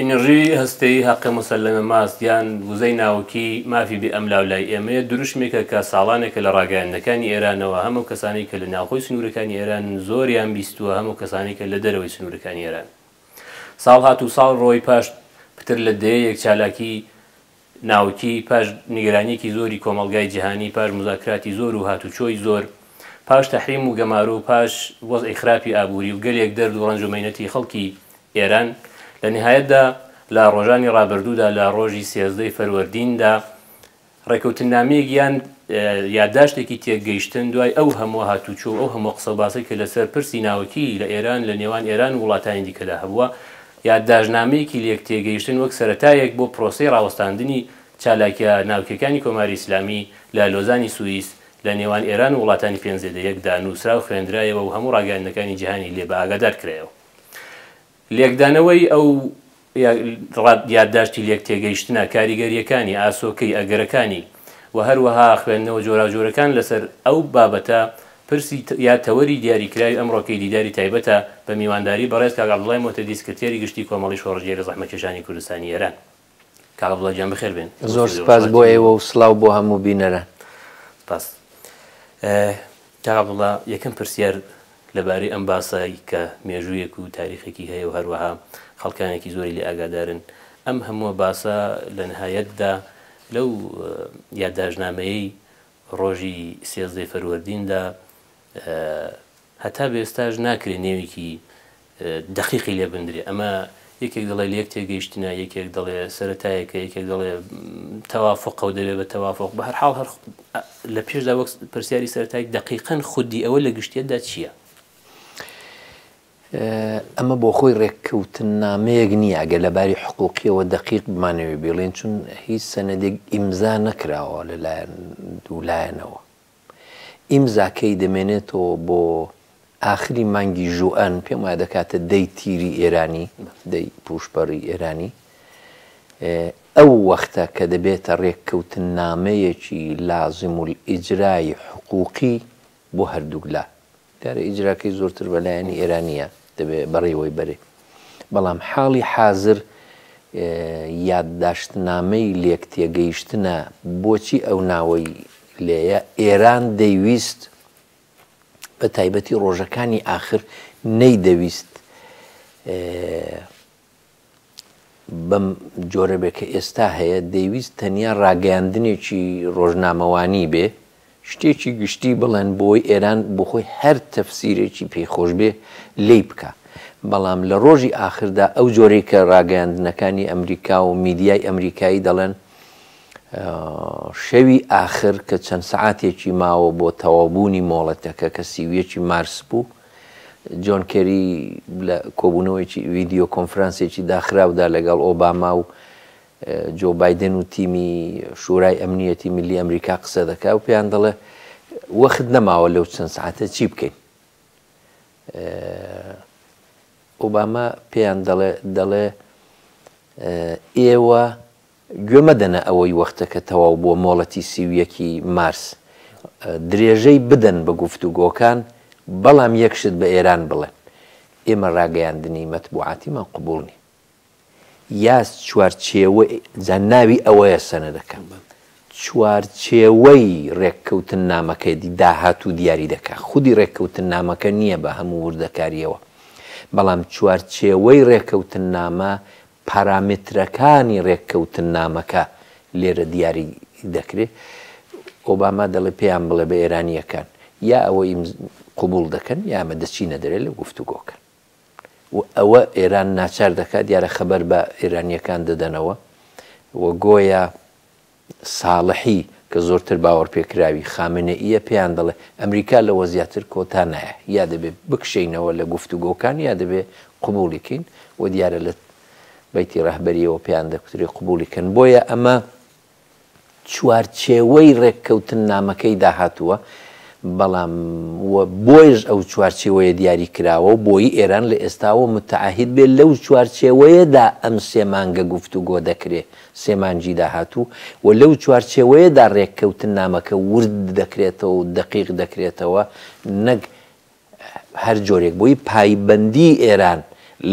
ئینرژی هەستەیی هەقە موسەلەمە ماست یان وزەی ناوکی مافی بێ ئەملاو لای ئێمەیە، دروشمێکە کە ساڵانێکە لە ڕاگەیاندنەکانی ئێرانەوە هەم ئەو کەسانەی کە لە ناوخۆی سنوورەکانی ئێرانن زۆریان بیستووە هەم ئەو کەسانەی کە لە دەرەوەی سنوورەکانی ئێرانن ساڵ هاتوو ساڵ ڕۆی پاش پتر لە دەیەیەک چالاکی ناوکی، پاش نیگەرانییەکی زۆری کۆمەڵگای جیهانی، پاش موزاکراتی زۆر و هاتوچۆی زۆر، پاش تەحریم و گەمارۆ، پاش وەزعی خراپی ئابووری و گەلێک دەرد و ڕەنج و مەینەتی خەڵکی ئێران، لە نیهایەتدا لە ڕۆژانی ڕابردوودا لە ڕۆژی سێزدە ی فەروەردیندا ڕێکەوتننامەیەک یان یادداشتێکی تێکگەیشتن دوای ئەو هەمووە هاتوچۆ و ئەو هەمووە قسەوباسەی کە لەسەر پرسی ناوکیی لە ئێران لە نێوان ئێران و وڵاتانی دیکەدا هەبووە یادداشتنامەیەکی لێکتێگەیشتن وەک سەرەتایەک بۆ پرۆسەی ڕاوەستاندنی چالاکییە ناوکییەکانی کۆماری ئیسلامی لە لۆزانی سوئیس لە نێوان ئێران و وڵاتانی پێنج زێدە یەک دا نووسرا و خوێندرایەوە و هەموو ڕاگەیاندنەکانی جیهانی لێ بەئاگادار کرایەوە. لێکدانەوەی ئەو یادداشتی لێکتێگەیشتنە، کاریگەرییەکانی، ئاسۆکەی، ئەگەرەکانی، و هەروەها خوێندنەوە جۆراوجۆرەکان لەسەر ئەو بابەتە پرسی یا تەوەری دیاریکراوی ئەمڕۆکەی دیداری تایبەتە بە میوانداری بەڕێز کاک عەبدوڵای مۆهتەدی سکرتێری گشتی کۆمەڵەی شۆڕشگێری زەحمەتکێشانی کوردستانی ئێران. کاک عەبدوڵا گیان بەخێر بێن. زۆر سپاس بۆ ئێوە و سڵاو بۆ هەموو بینەران. سپاس. تابڵە، یەکەم پرسیار لەبارەی ئەم باسە کە مێژوویەک و تاریخێکی هەیە و هەروەها خەڵکانێکی زۆری لێ ئاگادارن، ئەم هەمووە باسە لە نهایەتدا لەو یاداشتنامەیەی ڕۆژی سێزدەی فەروەردیندا هەتا بە ئێستاش ناکرێ نێوێکی دەقیقی لێ بندرێ ئەمە یەکێک دەڵێ لەیەک تێگەیشتنە یەکێک دەڵێ سەرەتایەکە یەکێک دەڵێ تەوافقە و دەبێ بە تەوافق بە هەرحاڵ هەر لە پێشدا وەک پرسیاری سەرەتای دەقیقەن خودی ئەوە لە گشتێتدا چییە؟ ئەمە بۆ خۆی ڕێککەوتن نامەیەک نییە ئەگەر لە باری حقوقیەوە دەقیق بمانەوێ بیڵێن چون هیچ سەنەدێک ئیمزا نەکراوە لەلایەن دوولایەنەوە ئیمزاکەی دەمێنێتەوە بۆ ئاخری مانگی ژوئەن، پێم وایە دەکاتە دەی تیری ئێرانی، دەی پووشپەڕی ئێرانی. ئەو وەختە کە دەبێتە رێککەوتننامەیەکی لازمولئیجرای حقووقی بۆ هەردووک لا. دیارە ئیجراکەی زۆرتر بە لایەنی ئێرانییە دەبێ بەڕێوەی بەرێ. بەڵام حاڵی حازر یادداشتنامەی لێکتێگەیشتنە بۆچی ئەو ناوەی لێیە، ئێران دەیویست بە تایبەتی ڕۆژەکانی ئاخر نەیدەویست بەم جۆرە بێ کە ئێستا هەیە، دەیویست تەنیا ڕاگەیاندنێکی ڕۆژنامەوانی بێ، شتێکی گشتی بڵێن بۆی ئێران بۆخۆی هەر تەفسیرێکی پێی خۆش بێ لێی بکا. بەڵام لە ڕۆژی ئاخردا ئەو جۆرەی کە ڕاگەیاندنەکانی ئەمریکا و میدیای ئەمریکایی دەڵێن، شەوی ئاخر کە چەند سەعاتێکی ماوە بۆ تەواوبوونی مۆڵەتەکە کە سی و یەکی مارس بوو، جۆن کێری لە کۆبوونەوەیەکی ڤیدیۆ کۆنفرانسێکی داخراودا لەگەڵ ئۆباما و جۆ بایدن و تیمی شورای ئەمنیەتی ملی ئەمریکا قسە دەکا و پێیان دەڵێ وەخت نەماوە لەو چەند سعاتە چی بکەین ئۆباما پێیان دەڵێ دەڵێ ئێوە گوێ مەدەنە ئەوەی وەختەکە تەواو بووە مۆڵەتی سی و یەک ی مارس درێژەی بدەن بە گفتوگۆکان بەڵام یەک شت بە ئێران بڵێن ئێمە ڕاگەیاندنی مەتبوعاتیمان قبوڵ نی یە چوارچێوەی جا ناوی ئەوەیە سەنەدەکە چوارچێوەی ڕێککەوتننامەکەی داهاتوو دیاری دەکا خودی ڕێککەوتننامەکە نییە بە هەموو وردەکارییەوە بەڵام چوارچێوەی ڕێکەوتننامە پارامترەکانی رێککەوتننامەکە لێرە دیاری دەکرێت. ئۆباما دەڵێت پێیان بڵێ بە ئێرانییەکان یا ئەوە ئیم قبوڵ دەکەن یا ئێمە دەچینە دەرێ لە گفتوگۆکە و ئەوە ئێران ناچار دەکات دیارە خەبەر بە ئێرانییەکان دەدەنەوە و گۆیا ساڵحی کە زۆرتر باوەڕپێکراوی خامنەئییە پێیان دەڵێ، ئەمریکا لەوە زیاتر کۆتا نایە، یا دەبێ بکشێینەوە لە گفتوگۆکان یا دەبێ قبووڵی کەین و دیارە لە بەیتی ڕەهبەرییەوە پێیان دەکوترێ قبووڵی کەن. بۆیە ئەمە چوارچێوەی ڕێککەوتننامەکەیدا هاتووە، بەڵام و بۆیەش ئەو چوارچێوەیە دیاری کراوە و بۆیی ئێران لە ئێستاوە متعهد بێ لەو چوارچێوەیەدا ئەم سێ مانگە گفتوگۆ دەکرێ. سێ مانگی داهاتوو و لەو چوارچێوەیەدا رێککەوتننامەکە ورد دەکرێتەوە و دەقیق دەکرێتەوە نەک هەر جۆرێک بۆی پایبەندیی ئێران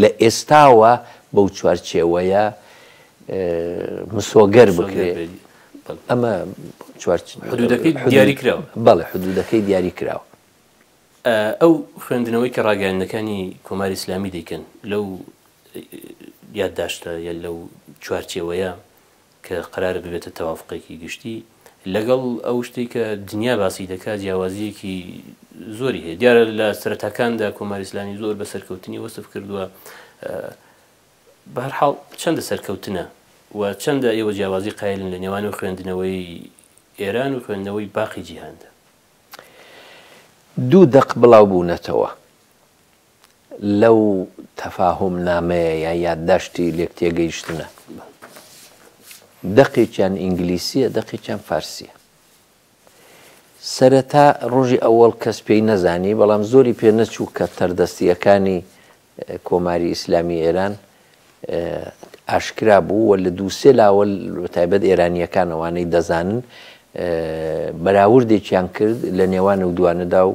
لە ئێستاوە بەو چوارچێوەیە مسۆگەر بکرێت. ئەمە چوار حدوودەکەی دیاریکراوە. بەڵێ حدوودەکەی دیاریکراوە. ئەو خوێندنەوەی کە ڕاگەیاندنەکانی کۆماری ئیسلامی دەیکەن لەو یادداشتە یە لەو چوارچێوەیە کە قەرارە ببێتە تەوافقێکی گشتی لەگەڵ ئەو شتێک کە دنیا باسی دەکات جیاوازیەکی زۆری هەیە دیارە لە سەرەتاکاندا کۆماری ئسلامی زۆر بە سەرکەوتنی وەسف کردووە بەرحاڵ چەندە سەرکەوتنە و چەندە ئێوە جیاوازی قایلن لە نێوان و خوێندنەوەی ئێران و خوێندنەوەی باقی جیهاندا دوو دەق بڵاو بوونەتەوە لەو تەفاهوم نامەیە یا یادداشتی لێک تێگەیشتنە. دەقێکیان ئینگلیسیە دەقێکیان فارسیە. سەرەتا ڕۆژی ئەوەڵ کەس پێی نەزانی بەڵام زۆری پێ نەچوو کە تەردەستیەکانی کۆماری ئیسلامی ئێران ئاشکرا بوو و لە دوو سێ لاوە بە تایبەت ئێرانییەکان ئەوانەی دەزانن بەراوردێکیان کرد لە نێوان و دوانەدا و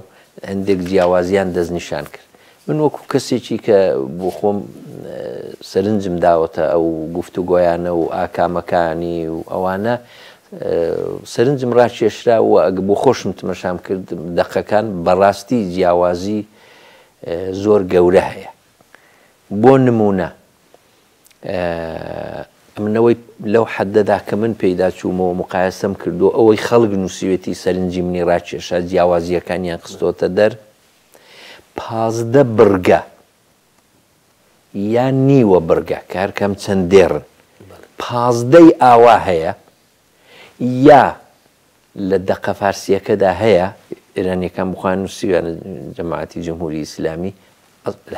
هەندێک جیاوازیان دەستنیشان کرد من وەکو کەسێکی کە بۆ خۆم سەرنجم داوەتە ئەو گفتوگۆیانە و ئاکامەکانی و ئەوانە سەرنجم ڕاکێشرا و ئەگە بۆ خۆشم تمەشام کرد دەقەکان بەڕاستی جیاوازی زۆر گەورە هەیە بۆ نمونە ئەمنەوەی لەو حەدەدا کە من پێیدا چوومەوە مقایسەم کردو ئەوەی خەڵک نووسوێتی سەرنجی منی ڕاکێشا جیاوازیەکانیان خستۆتە دەر پازدە بڕگە یان نیوە بڕگە کارکەم چەند دێڕن پازدەی ئاوا هەیە یا لە دەقە فارسییەکەدا هەیە، ئێرانییەکان بۆ خۆیان نووسیویانە جەماعەتی جمهوری ئیسلامی،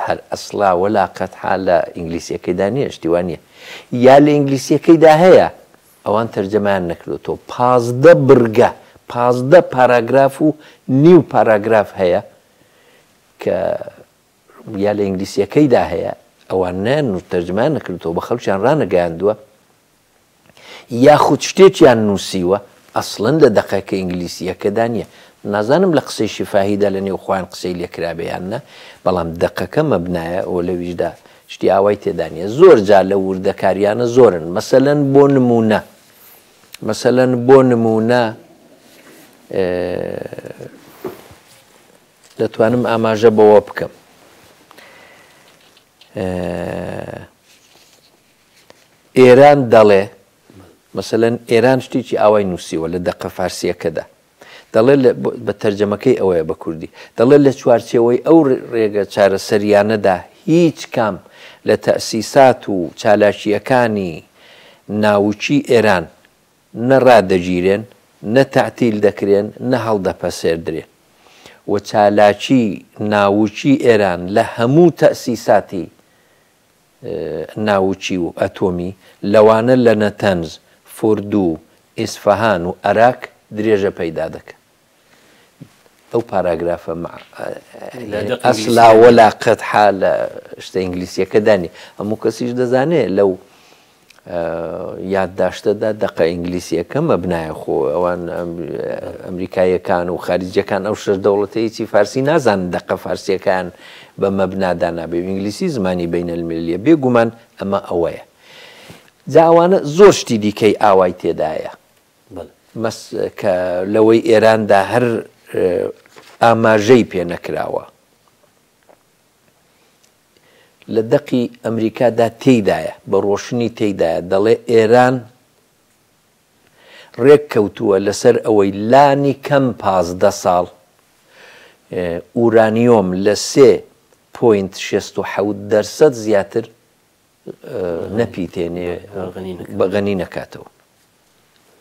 هەر ئەسڵا ولا قەتحا لە ئینگلیسییەکەیدا نییە، شتی وا نییە. یا لە ئینگلیسییەکەیدا هەیە، ئەوان تەرجەمەیان نەکردۆتەوە، پازدە بڕگە، پازدە پاراگراف و نیو پاراگراف هەیە کە یا لە ئینگلیسییەکەیدا هەیە، ئەوان نەیان نووس تەرجەمەیان نەکردۆتەوە، بە خەڵکیان ڕانەگەیاندووە. یاخود شتێکیان نووسیوە ئەسڵەن لە دەقەکە ئینگلیسییەکەدا نییە نازانم لە قسەی شیفاهیدا لە نێو خۆیان قسەی لێکرابێ یان نا بەڵام دەقەکە مەبنایە و لەویشدا شتی ئاوای تێدا نییە زۆر جا لە وردەکاریانە زۆرن مەسەلەن بۆ نمونە مەسەلەن بۆ نمونە دەتوانم ئاماژە بەوە بکەم ئێران دەڵێ، مەسەلەن ئێران شتێکی ئاوای نووسیوە لە دەقە فارسییەکەدا، دەڵێ بە تەرجەمەکەی ئەوەیە بە کوردی، دەڵێ لە چوارچێوەی ئەو رێگە چارەسەرییانەدا هیچکام لە تەئسیسات و چالاکییەکانی ناوکیی ئێران نە رادەگیرێن، نە تەعتیل دەکرێن، نە هەڵدەپەسێردرێن و چالاکیی ناوکیی ئێران لە هەموو تەئسیساتی ناوکی و ئەتۆمی، لەوانە لە نەتەنز، فوردو، ئیسفەهان و ئەراک درێژە پەیدا دەکەن. ئەو پاراگرافە مع ئەسلا ولا قەدحا لە شتە ئینگلیسییەکەدا نییە. هەموو کەسیش دەزانێ لەو یادداشتەدا دەقە ئینگلیسییەکە مەبنایە خۆ ئەوان ئەمریکایەکان و خارجیەکان ئەو شەر دەوڵەتەیەکی فارسی نازان دەقە فارسیەکان بە مەبنادا نابێ ئینگلیسی زمانی بینە الملیە بێگومان ئەمە ئەوەیە جاوانە زۆر شتی دیکەی ئاوای تێدایە مەس کە لەوەی ئێراندا هەر ئاماژەی پێ نەکراوە لە دەقی ئەمریکا دا تێیدایە، بە ڕۆشنی تێیدایە دەڵێ ئێران ڕێک کەوتووە لە سەر ئەوەی لانی کەم پازدە ساڵ ئورانیۆم لە سێ پۆینت شێست و حەوت دەرسەد زیاتر نەپیتێنێ بە غەنی نەکاتەوە.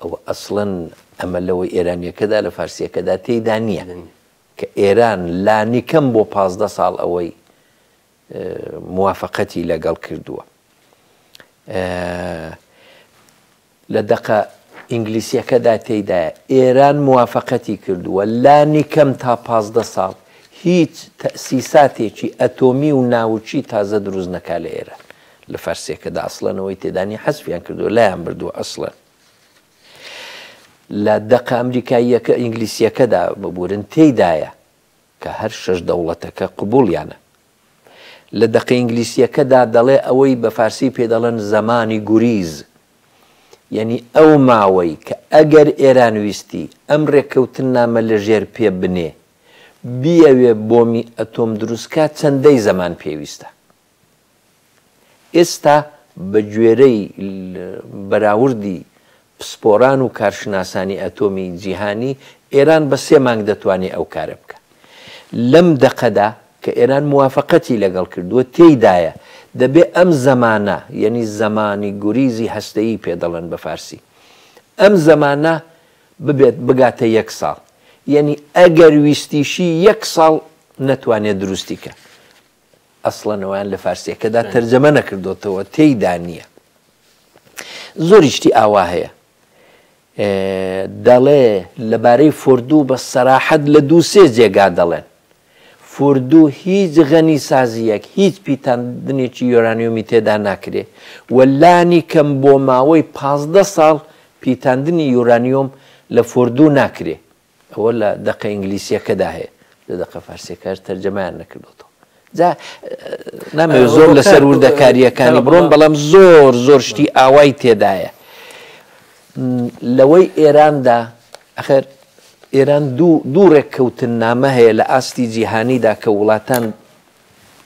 ئەوە ئەسڵەن ئەمە لەوەی ئێرانیەکەدا لە فارسیەکەدا تێیدا نییە. کە ئێران لانیکەم بۆ پازدە ساڵ ئەوەی موافەقەتی لەگەڵ کردووە لە دەقە ئینگلیسیەکەدا تێدایە ئێران موافقەتی کردووە لانی کەم تا پازدە ساڵ هیچ تەسیساتێکی ئەتۆمی و ناوچی تازە دروست نەکا لە ئێرە لە فەرسێکەدا ئەسڵەنەوەی تێدانی حەسفیان کردو لایان بردووە ئەسڵەن لە دەقە ئەمریکاییەکە، ئینگلیسییەکەدا ببورن، تێیدایە کە هەر شەش دەوڵەتەکە قبووڵیانە. لە دەقە ئینگلیسییەکەدا دەڵێ ئەوەی بە فارسی پێی دەڵێن زەمانی گوریز، یەنی ئەو ماوەی کە ئەگەر ئێران ویستی ئەم رێککەوتننامە لە ژێر پێ بنێ، بیەوێ بۆمی ئەتۆم دروست کا چەندەی زەمان پێویستە. ئێستا بە گوێرەی بەراوردی پسپۆران و کارشناسانی ئەتۆمی جیهانی، ئێران بە سێ مانگ دەتوانێ ئەو کارە بکا. لەم دەقەدا کە ئێران موافەقەتی لەگەڵ کردووە تێیدایە، دەبێ ئەم زەمانە، یەنی زەمانی گوریزی هەستەیی پێ دەڵێن بە فارسی، ئەم زەمانە ببێت بگاتە یەک ساڵ. یەنی ئەگەر ویستیشی یەک ساڵ نەتوانێ دروستی کا. ئەسڵەن ئەویان لە فارسیەکەدا تەرجەمە نەکردوتەوە تێیدا نییە زۆری شتی ئاوا هەیە دەڵێ لەبارەی فردوو بە سەراحەت لە دوو سێ جێگا دەڵێن فردوو هیچ غەنی سازیەک هیچ پیتاندنێکی یۆرانیۆمی تێدا ناکرێ و لانی کەم بۆ ماوەی پازدە ساڵ پیتاندنی یورانیۆم لە فردوو ناکرێ ئەوە لە دەقە ئینگلیسیەکەدا هەیە لە دەقە فارسیەکەش تەرجەمەیان نەکردوەوە جا نامەوێت زۆر لەسەر وردەکاریەکانی بڕۆم بەڵام زۆر زۆر شتی ئاوای تێدایە لەوەی ئێراندا ئەخر ئێران دوو ڕێککەوتن نامە هەیە لە ئاستی جیهانیدا کە وڵاتان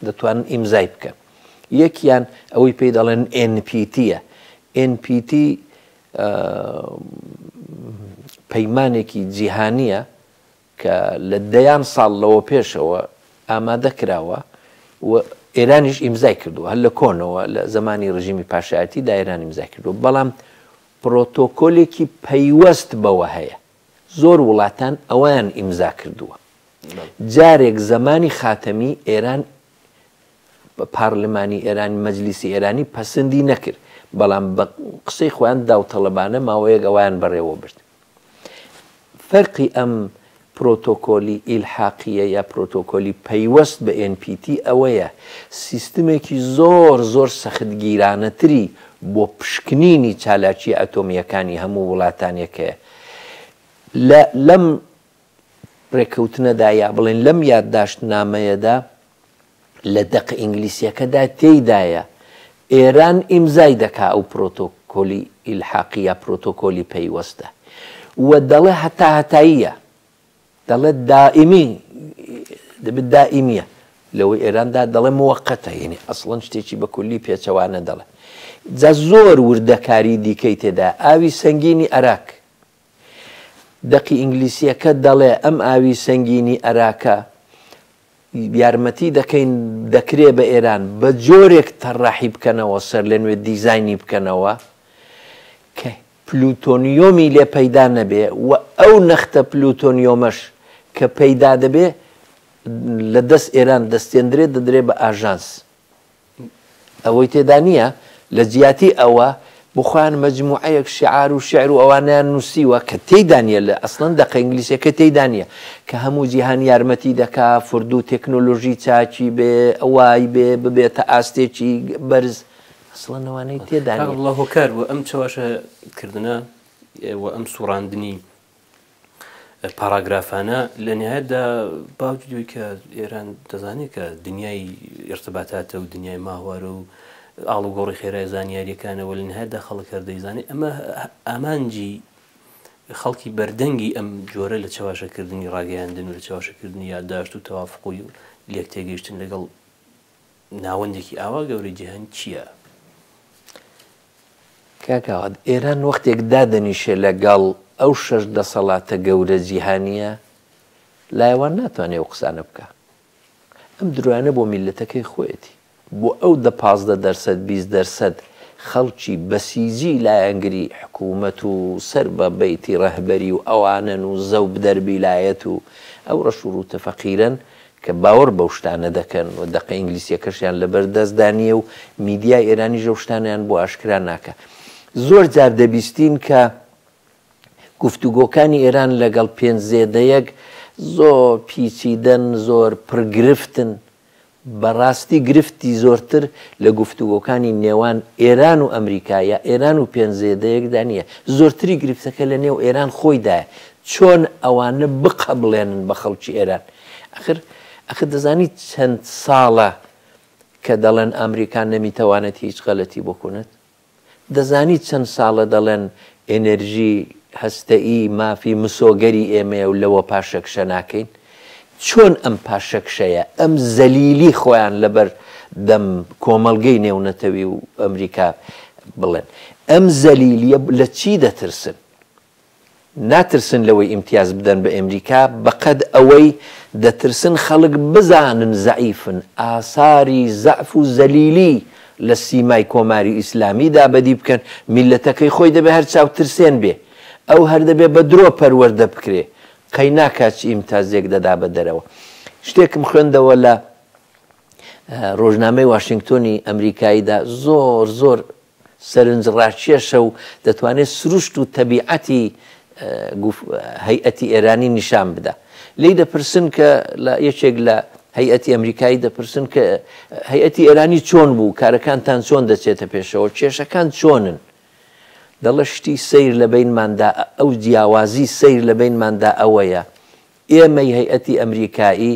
دەتوانن ئیمزای بکەن یەکیان ئەوەی پێی دەڵێن NPTە NPT پەیمانێکی جیهانییە کە لە دەیان ساڵ لەوە پێشەوە ئامادە کراوە و ئێرانیش ئیمزای کردووە هەر لە کۆنەوە لە زمانی ڕژیمی پاشایەتی دا ئێران ئیمزای کردووە بەڵام پرۆتۆکۆلێکی پەیوەست بەوە هەیە زۆر وڵاتان ئەویان ئیمزا کردووە جارێک زمانی خاتەمی ئێران پارلمانی ئێران مەجلیسی ئێرانی پەسندی نەکرد بەڵام بە قسەی خۆیان داوطلبانە ماوەیەک ئەویان بەڕێوە برد فەرقی ئەم پرۆتۆکۆلی ئیلحاقیە یا پرۆتۆکۆلی پەیوەست بە NPT ئەوەیە سیستمێکی زۆر زۆر سەختگیرانەتری بۆ پشکنینی چالاکی ئەتۆمیەکانی هەموو وڵاتانێک هەیە لە لەم ڕێکەوتنەدا یا بڵێن لەم یادداشت نامەیەدا لە دەقە ئینگلیسیەکەدا تێیدایە ئێران ئیمزای دەکا ئەو پرۆتۆکۆلی ئیلحاقی یا پرۆتۆکۆلی پەیوەستە و دەڵێ هەتاهەتاییە دەڵێ دائیمی دەبێت دائیمیە لەوەی ئێراندا دەڵێ موقتە یعنی ئەسڵەن شتێکی بە کولی پێچەوانە دەڵێ جا زۆر وردەکاری دیکەی تێدا ئاوی سنگینی عراک دەقی ئینگلیسییەکە دەڵێ، ئەم ئاوی سەنگینی ئەراکە یارمەتی دەکەین دەکرێ بە ئێران بە جۆرێک تەڕاحی بکەنەوە سەرلەنوێ دیزاینی بکەنەوە کە پلوتۆنیۆمی لێ پەیدا نەبێ و ئەو نەختە پلوتۆنیۆمەش کە پەیدا دەبێ لە دەست ئێران دەستێندرێ دەدرێ بە ئاژانس ئەوەی تێدا نییە لە جیاتی ئەوە بۆ خۆیان مەجموعەیەک شیعار و شیعر و ئەوانەیان نووسیوە کە تێیدا نییە لە ئەسڵەن دەقە ئینگلیسیەکەی تێیدا نییە کە هەموو جیهان یارمەتی دەکا فردوو تەکنۆلۆژی چاکی بێ وای بێ ببێتە ئاستێکی بەرز ئەسڵەن ئەوانەی تێدا نییە. ئەستەغفراللە هۆکار بووە ئەم چەواشە کردنە و ئەم سوڕاندنی پاراگرافانە لە نهایەتدا باوجی دوی کە ئێران دەزانێت کە دنیای ئرتباتاتە و دنیای ماهوارە و ئاڵوگۆڕی خێرای زانیاریەکانەوە لە نهایەتدا خەڵک هەردەیزانێت ئەمە ئامانجی خەڵکی بەردەنگی ئەم جۆرە لە چاواشەکردنی ڕاگەیاندن و لە چاواشەکردنی یادداشت و تەوافقی و لێک تێگەیشتن لەگەڵ ناوەندێکی ئاوا گەورەی جیهان چیە؟ کاک ئاوات ئێران وەختێک دادەنیشێ لەگەڵ ئەو شەش دەسەڵاتە گەورە جیهانیە لایەوان ناتوانێ ئەو قسانە بکا ئەم درۆیانە بۆ میلەتەکەی خۆیەتی بۆ ئەو دە پازدە دەرسەد بیست دەرسەد خەڵکی بەسیجی لایەنگری حکوومەت و سەر بە بەیتی ڕەهبەری و ئەوانەن و زەوب دەربیلایەت و ئەو ڕەش و ڕووتە فەقیرەن کە باوەڕ بەو شتانە دەکەن و دەقە ئینگلیسییەکەشیان لەبەردەستدا نییە و میدیای ئێرانیش ئەو شتانەیان بۆ ئاشکرا ناکا. زۆر جار دەبیستین کە گفتوگۆکانی ئێران لەگەڵ پێنج زێدەیەک زۆر پیچیدەن، زۆر پڕ گرفتن. بە ڕاستی گرفتی زۆرتر لە گفتوگۆکانی نێوان ئێران و ئەمریکا یا ئێران و پێنج زێدەیەکدا نییە. زۆرتری گرفتەکە لەنێو ئێران خۆیدایە. چۆن ئەوانە بقەبڵێنن بە خەڵکی ئێران؟ ئاخر ئاخر دەزانیت چەند ساڵە کە دەڵێن ئامریکا نەمیتەوانێت هیچ غەلەتی بکونت؟ دەزانیت چەند ساڵە دەڵێن ئێنێرژی هەستەئی مافی مسۆگەری ئێمەیە و لەوە پاشەکشە ناکەین؟ چۆن ئەم پاشەکشەیە، ئەم زەلیلی خۆیان لە بەر دەم کۆمەڵگەی نێونەتەوی و ئەمریکا بڵێن؟ ئەم زەلیلیە لە چی دەترسن؟ ناترسن لەوەی ئیمتیاز بدەن بە ئەمریکا بەقەد ئەوەی دەترسن خەڵک بزانن زەعیفن، ئاساری زەعف و زەلیلی لە سیمای کۆماری ئیسلامیدا بەدی بکەن، میللەتەکەی خۆی دەبێ هەر چاوترسێن بێ، ئەو هەر دەبێ بە درۆ پەروەردە بکرێ، قەی ناکا چ ئیمتازێک دەدا بە دەرەوە. شتێکم خوێندەوە لە رۆژنامەی واشینگتۆنی ئەمریکاییدا زۆر زۆر سەرنجڕاکێشە و دەتوانێت سروشت و تەبیعەتی هەیئەتی ئێرانی نیشان بدا. لێی دەپرسن کە لە یەکێک لە هەیئەتی ئەمریکایی دەپرسن کە هەیئەتی ئێرانی چۆن بوو، کارەکانتان چۆن دەچێتە پێشەوە، کێشەکان چۆنن؟ دەڵێت شتی سەیر لە بەینماندا ئەو جیاوازی سەیر لە بەینماندا ئەوەیە ئێمەی هەیئەتی ئەمریکایی،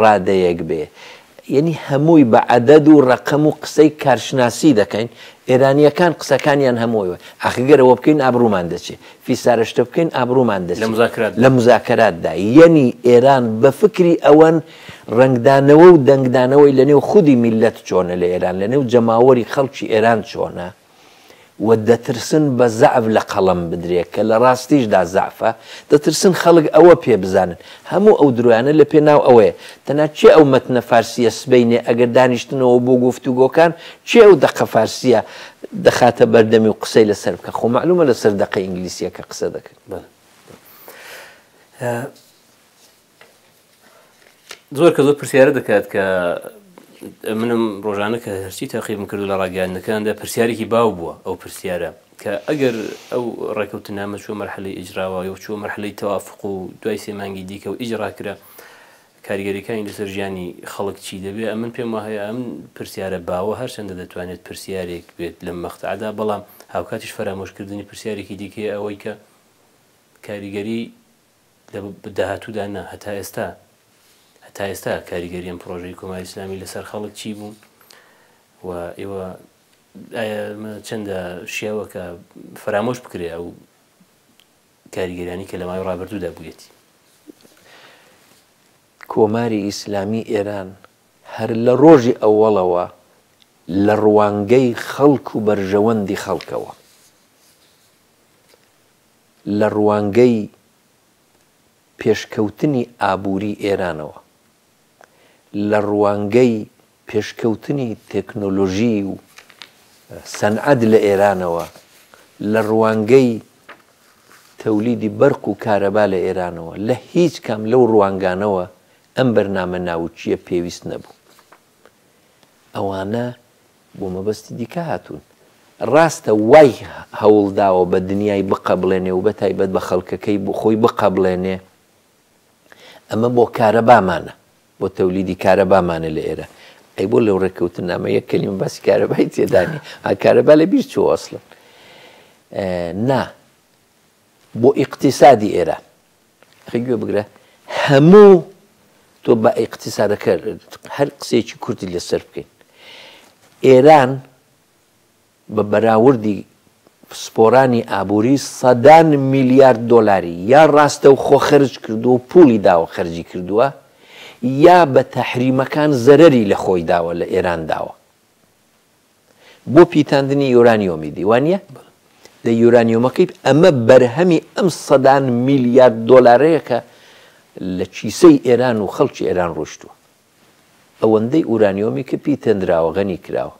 ڕادەیەک بێ یەنی هەمووی بە عەدەد و ڕەقەم و قسەی کارشناسی دەکەین ئێرانیەکان قسەکانیان هەمووەوە ئەخگەر ئەوە بکەین ئابرومان دەچێ فیسارشتە بکەین ئابرومان دە لە مزاکەراتدا یەنی ئێران بە فکری ئەوەن ڕنگدانەوە و دەنگدانەوەی لە نێو خودی میلەت چۆنە لە ئێران لە نێو جەماوەری خەڵکی ئێران چۆنە و دەترسن بە زەعف لە قەڵەم بدرێ کە لە ڕاستیشدا زەعفە، دەترسن خەڵک ئەوە پێ بزانن. هەموو ئەو درۆیانە لە پێناو ئەوەیە. تەنها کێ ئەو مەتنە فارسییە سبەینێ ئەگەر دانیشتنەوە بۆ گۆفتوگۆکان کێ ئەو دەقە فارسییە دەخاتە بەردەمی و قسەی لە سەر بکا؟ خۆ مەعلومە لە سەر دەقە ئینگلیسییەکە قسە دەکەن. زۆر کە زۆر پرسیارە دەکات کە منم ڕۆژانە کە هەرچی تاقیبم کردو لە ڕاگەاندنەکاندا پرسیارێکی باو بووە ئەو پرسیارە کە ئەگەر ئەو ڕێکەوتە نامە چوە مەرحەلی ئیجراوە و چوە مەرحەلی تەوافق و دوای سێمانگی دیکە و ئیجراکرا کاریگەریەکانی لەسەر ژیانی خەڵک چی دەبێ ئەمن پێم وهەیە ئەم پرسیارە باوە هەرچەندە دەتوانێت پرسیارێک بێت لەم مەختعدا بەڵام هاوکاتیش فەرامۆشکردنی پرسیارێکی دیکەیە ئەوەی کە کاریگەری لە داهاتوودا نا، هەتا ئێستا هەتا ئێستا کاریگەری ئەم پڕۆژەی کۆماری ئیسلامی لەسەر خەڵک چی بوو و ئێوە ئایا ئەمە چەندە شیاوە کە فەرامۆش بکرێ ئەو کاریگەریانی کە لە ماوەی ڕابردوودا بوویەتی؟ کۆماری ئیسلامی ئێران هەر لە ڕۆژی ئەوەڵەوە لە ڕوانگەی خەڵک و بەرژەوەندی خەڵکەوە، لە ڕوانگەی پێشکەوتنی ئابووری ئێرانەوە، لە ڕوانگەی پێشکەوتنی تێکنۆلۆژی و سەنعەت لە ئێرانەوە، لە ڕوانگەی تەولیدی بەرق و کارەبا لە ئێرانەوە، لە هیچ کام لەو ڕوانگانەوە ئەم بەرنامە ناوکییە پێویست نەبوو. ئەوانە بۆ مەبەستی دیکە هاتوون. ڕاستە وای هەوڵ داوە بە دنیای بقەبڵێنێ و بەتایبەت بە خەڵکەکەی بۆ خۆی بقەبڵێنێ، ئەمە بۆ کارەبامانە، بۆ تەولیدی کارەبامانە لە ئێرە. ئەی بۆ لەو ڕێککەوتننامە یەک کەلیمە باسی کارەبای تێدا نییە؟ ئا کارەبا لە بیر چووە ئەسڵەن؟ نا، بۆ ئیقتیسادی ئێران. ئەخەی گوێ بگرە هەموو تۆ بە ئیقتیسادەکە هەر قسەیەکی کورتی لەسەر بکەین ئێران بە بەراوردی پسپۆرانی ئابووری سەدان میلیارد دۆلاری یا ڕاستە و خۆ خەرج کردووە و پولی داوە خەرجی کردووە یا بە تەحریمەکان زەرری لە خۆی داوە لە ئێران داوە بۆ پیتاندنی یۆرانیۆمیدی وانە لە یۆرانیۆمەکەی ئەمە بەرهەمی ئەم سەدان میلیارد دۆلارەیەکە لە کیسەی ئێران و خەڵکی ئێران ڕۆشتووە ئەوەندەی ئورانیۆمی کە پی تێنراوە غەنی کراوە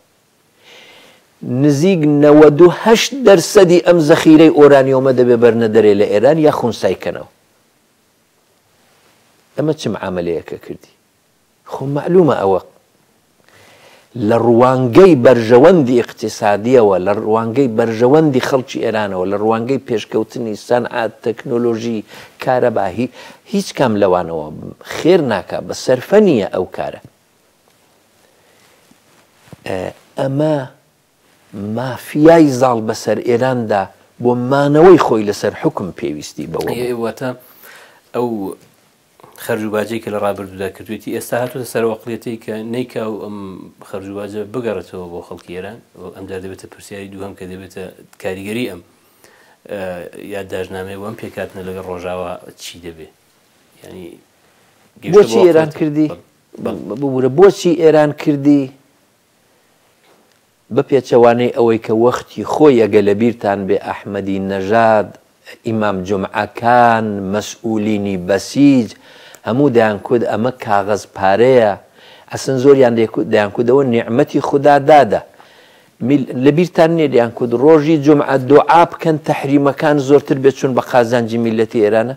نزیک 98 دەرسەدی ئەم زەخیرەی ئۆرانیۆمە دەبێ بەرنە دەرێ لە ئێران یا خونسایکەنەوە ئەمە چم عملەیەکە کردی خۆ مەعلومە ئەوە لە ڕوانگەی بەرژەوەندی ئیقتیسادیەوە، لە ڕوانگەی بەرژەوەندی خەڵکی ئێرانەوە، لە ڕوانگەی پێشکەوتنی سەنعەت، تەکنۆلۆژی، کارەبا، هی هیچ کام لەوانەوە خێر ناکا، بە سەرفە نییە ئەو کارە. ئەمە مافیای زاڵ بەسەر ئێراندا بۆ مانەوەی خۆی لەسەر حوکم پێویستی بەوە بوو. ئەی واتە ئەو خەرج و باجەی کە لە ڕابردوودا کردوێتی ئێستا هاتوتە سەرەوەقلێتی کە نەیکا و ئەم خەرج و باجە بگەڕێتەوە بۆ خەڵکی ئێران ئەم جار دەبێتە پرسیاری دووهم کە دەبێتە کاریگەری ئەم یادداشنامەیە وەم پێکاتنە لەگەڵ ڕۆژاوا چی دەبێ ینی بۆچی ئێران کردی ببوورە بۆچی ئێران کردی بە پێچەوانەی ئەوەی کە وەختی خۆی ئەگە لە بیرتان بێ ئەحمەدی نەژاد، ئیمام جومعە، کان، مەسئولینی بەسیج هەموو دەیانکوت ئەمە کاغەز پارەیە، ئەسن زۆریان دەیکوت دەیانکوت ئەوە نیعمەتی خودا دادە. میل، لە بیرتان نیە دەیانکوت ڕۆژی جومعە دوعا بکەن تەحریمەکان زۆرتر بێت چون بە قازانجی میلەتی ئێرانە؟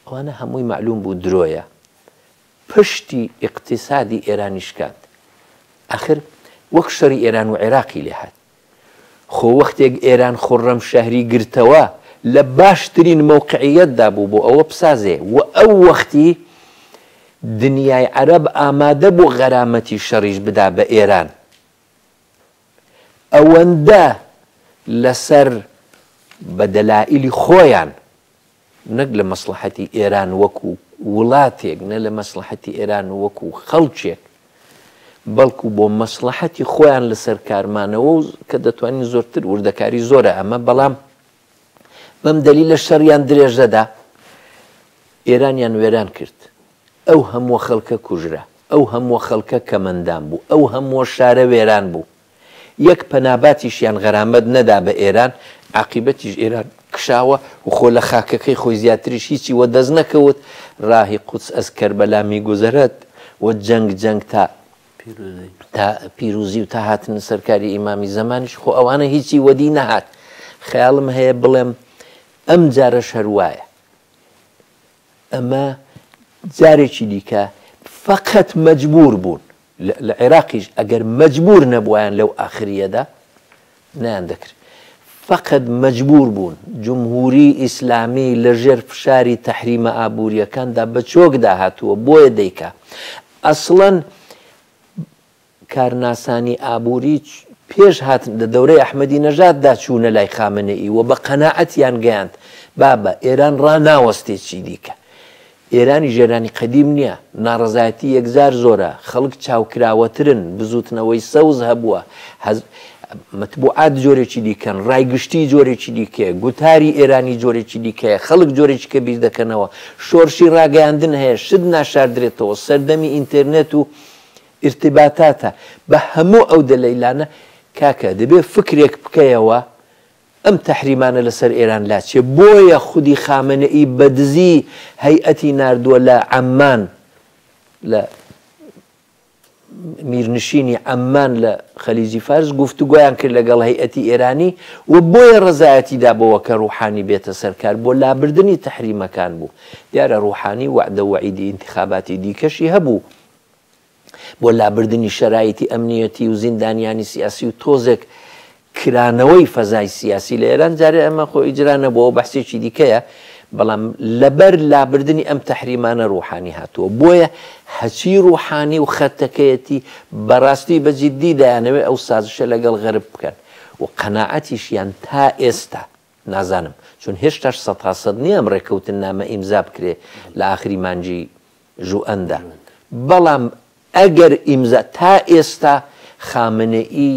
ئەوانە هەمووی مەعلوم بوو درۆیە پشتی ئیقتیسادی ئێرانی شکاند ئەخر وەک شەری ئێران و عێراقی لێ هات خۆ وەختێک ئێران خوڕەم شەهری گرتەوە لە باشترین مەوقعیەتدا بوو بۆ ئەوە بسازێ و ئەو وەختی دنیای عەرەب ئامادە بوو غەرامەتی شەڕیش بدا بە ئێران ئەوەندە لەسەر بە دەلائیلی خۆیان نەک لە مەسڵەحەتی ئێران وەکو وڵاتێک نە لە مەسڵەحەتی ئێران وەکو خەڵکێک بەڵکو بۆ مەسڵەحەتی خۆیان لەسەر کارمانەوە و کە دەتوانین زۆرتر وردەکاری زۆرە ئەمە بەڵام بەم دەلیلە شەڕیان درێژەدا ئێرانیان وێران کرد ئەو هەمووە خەڵکە کوژرا ئەو هەمووە خەڵکە کەمەندان بوو ئەو هەمووە شارە وێران بوو یەک پەناباتیشیان غەرامەت نەدا بە ئێران عقیبەتیش ئێران کشاوە و خۆ لە خاکەکەی خۆی زیاتریش هیچی وە دەست نەکەوت ڕاهی قوچ ئەز کەربەلا میگوزەرەت و جەنگ جەنگ تا پیروزی. تا پیروزی و تا هاتنە سەر کاری ئیمامی زەمانیش خۆ ئەوانە هیچی وەدی نەهات خەیاڵم هەیە بڵێم ئەم جارەش هەر وایە ئەمە جارێکی دیکە فقط مجبور بوون لە عێراقیش ئەگەر مجبور نەبوویان لەو ئاخریەدا نەیان دەکرد فەقەت مەجبوور بوون جمهووری ئیسلامی لە ژێر فشاری تەحریمە ئابووریەکاندا بە چۆک دا هاتووە بۆیە دەیکا ئەسڵەن کارناسانی ئابووری پێش هاتن لە دەورەی ئەحمەدی نەژاد دا چوونە لای خامنەی وە بە قەنەعەتیان گەیاند بابە ئێران ڕا ناوەستێ چی دیکە ئێرانیش ئێرانی قەدیم نییە، ناڕەزایەتی یەکجار زۆرە، خەڵک چاوکراوەترن، بزووتنەوەی سەوز هەبووە، حز، مەتبوعات جۆرێکی دیکەن، ڕای گشتی جۆرێکی دیکەیە، گوتاری ئێرانی جۆرێکی دیکەیە، خەڵک جۆرێکیکە بیر دەکەنەوە، شۆرشی ڕاگەیاندن هەیە، شت ناشاردرێتەوە، سەردەمی ئینتێرنێت و ئیرتیباتاتە، بە هەموو ئەو دەلەیلانە کاکە دەبێ فکرێک بکەیەوە، ئەم تەحریمانە لەسەر ئێران لاچێ بۆیە خودی خامەنەئی بەدزی هەیئەتی ناردووە لە عەممان لە میرنشینی عەممان لە خەلیجی فارس گفتوگۆیان کرد لەگەڵ هەیئەتی ئێرانی و بۆیە ڕزایەتی دابەوە کە ڕوحانی بێتە سەرکار بۆ لابردنی تەحریمەکان بوو دیارە ڕوحانی وعدە وعیدی ئینتخاباتی دیکەشی هەبوو بۆ لابردنی شەرایتی ئەمنیەتی و زیندانیانی سیاسی و تۆزێک کرانەوەی فەزای سیاسی لە ئێران جارێ ئەمە خۆ ئیجرا نەبووەوە بەحسێکی دیکەیە بەڵام لەبەر لابردنی ئەم تەحریمانە ڕوحانی هاتووە بۆیە هەچی ڕوحانی و خەتەکەیەتی بەڕاستی بەجددی دایانەوێت ئەو سازشە لەگەڵ غەرب بکەن و قەنەعەتیشیان تا ئێستا نازانم چون هێشتاش سەد تا سەد نیە ئەم ڕێکەوتننامە ئیمزا بکرێ لە ئاخری مانگی ژوئەندا بەڵام ئەگەر ئیمزا تا ئێستا خامنەئی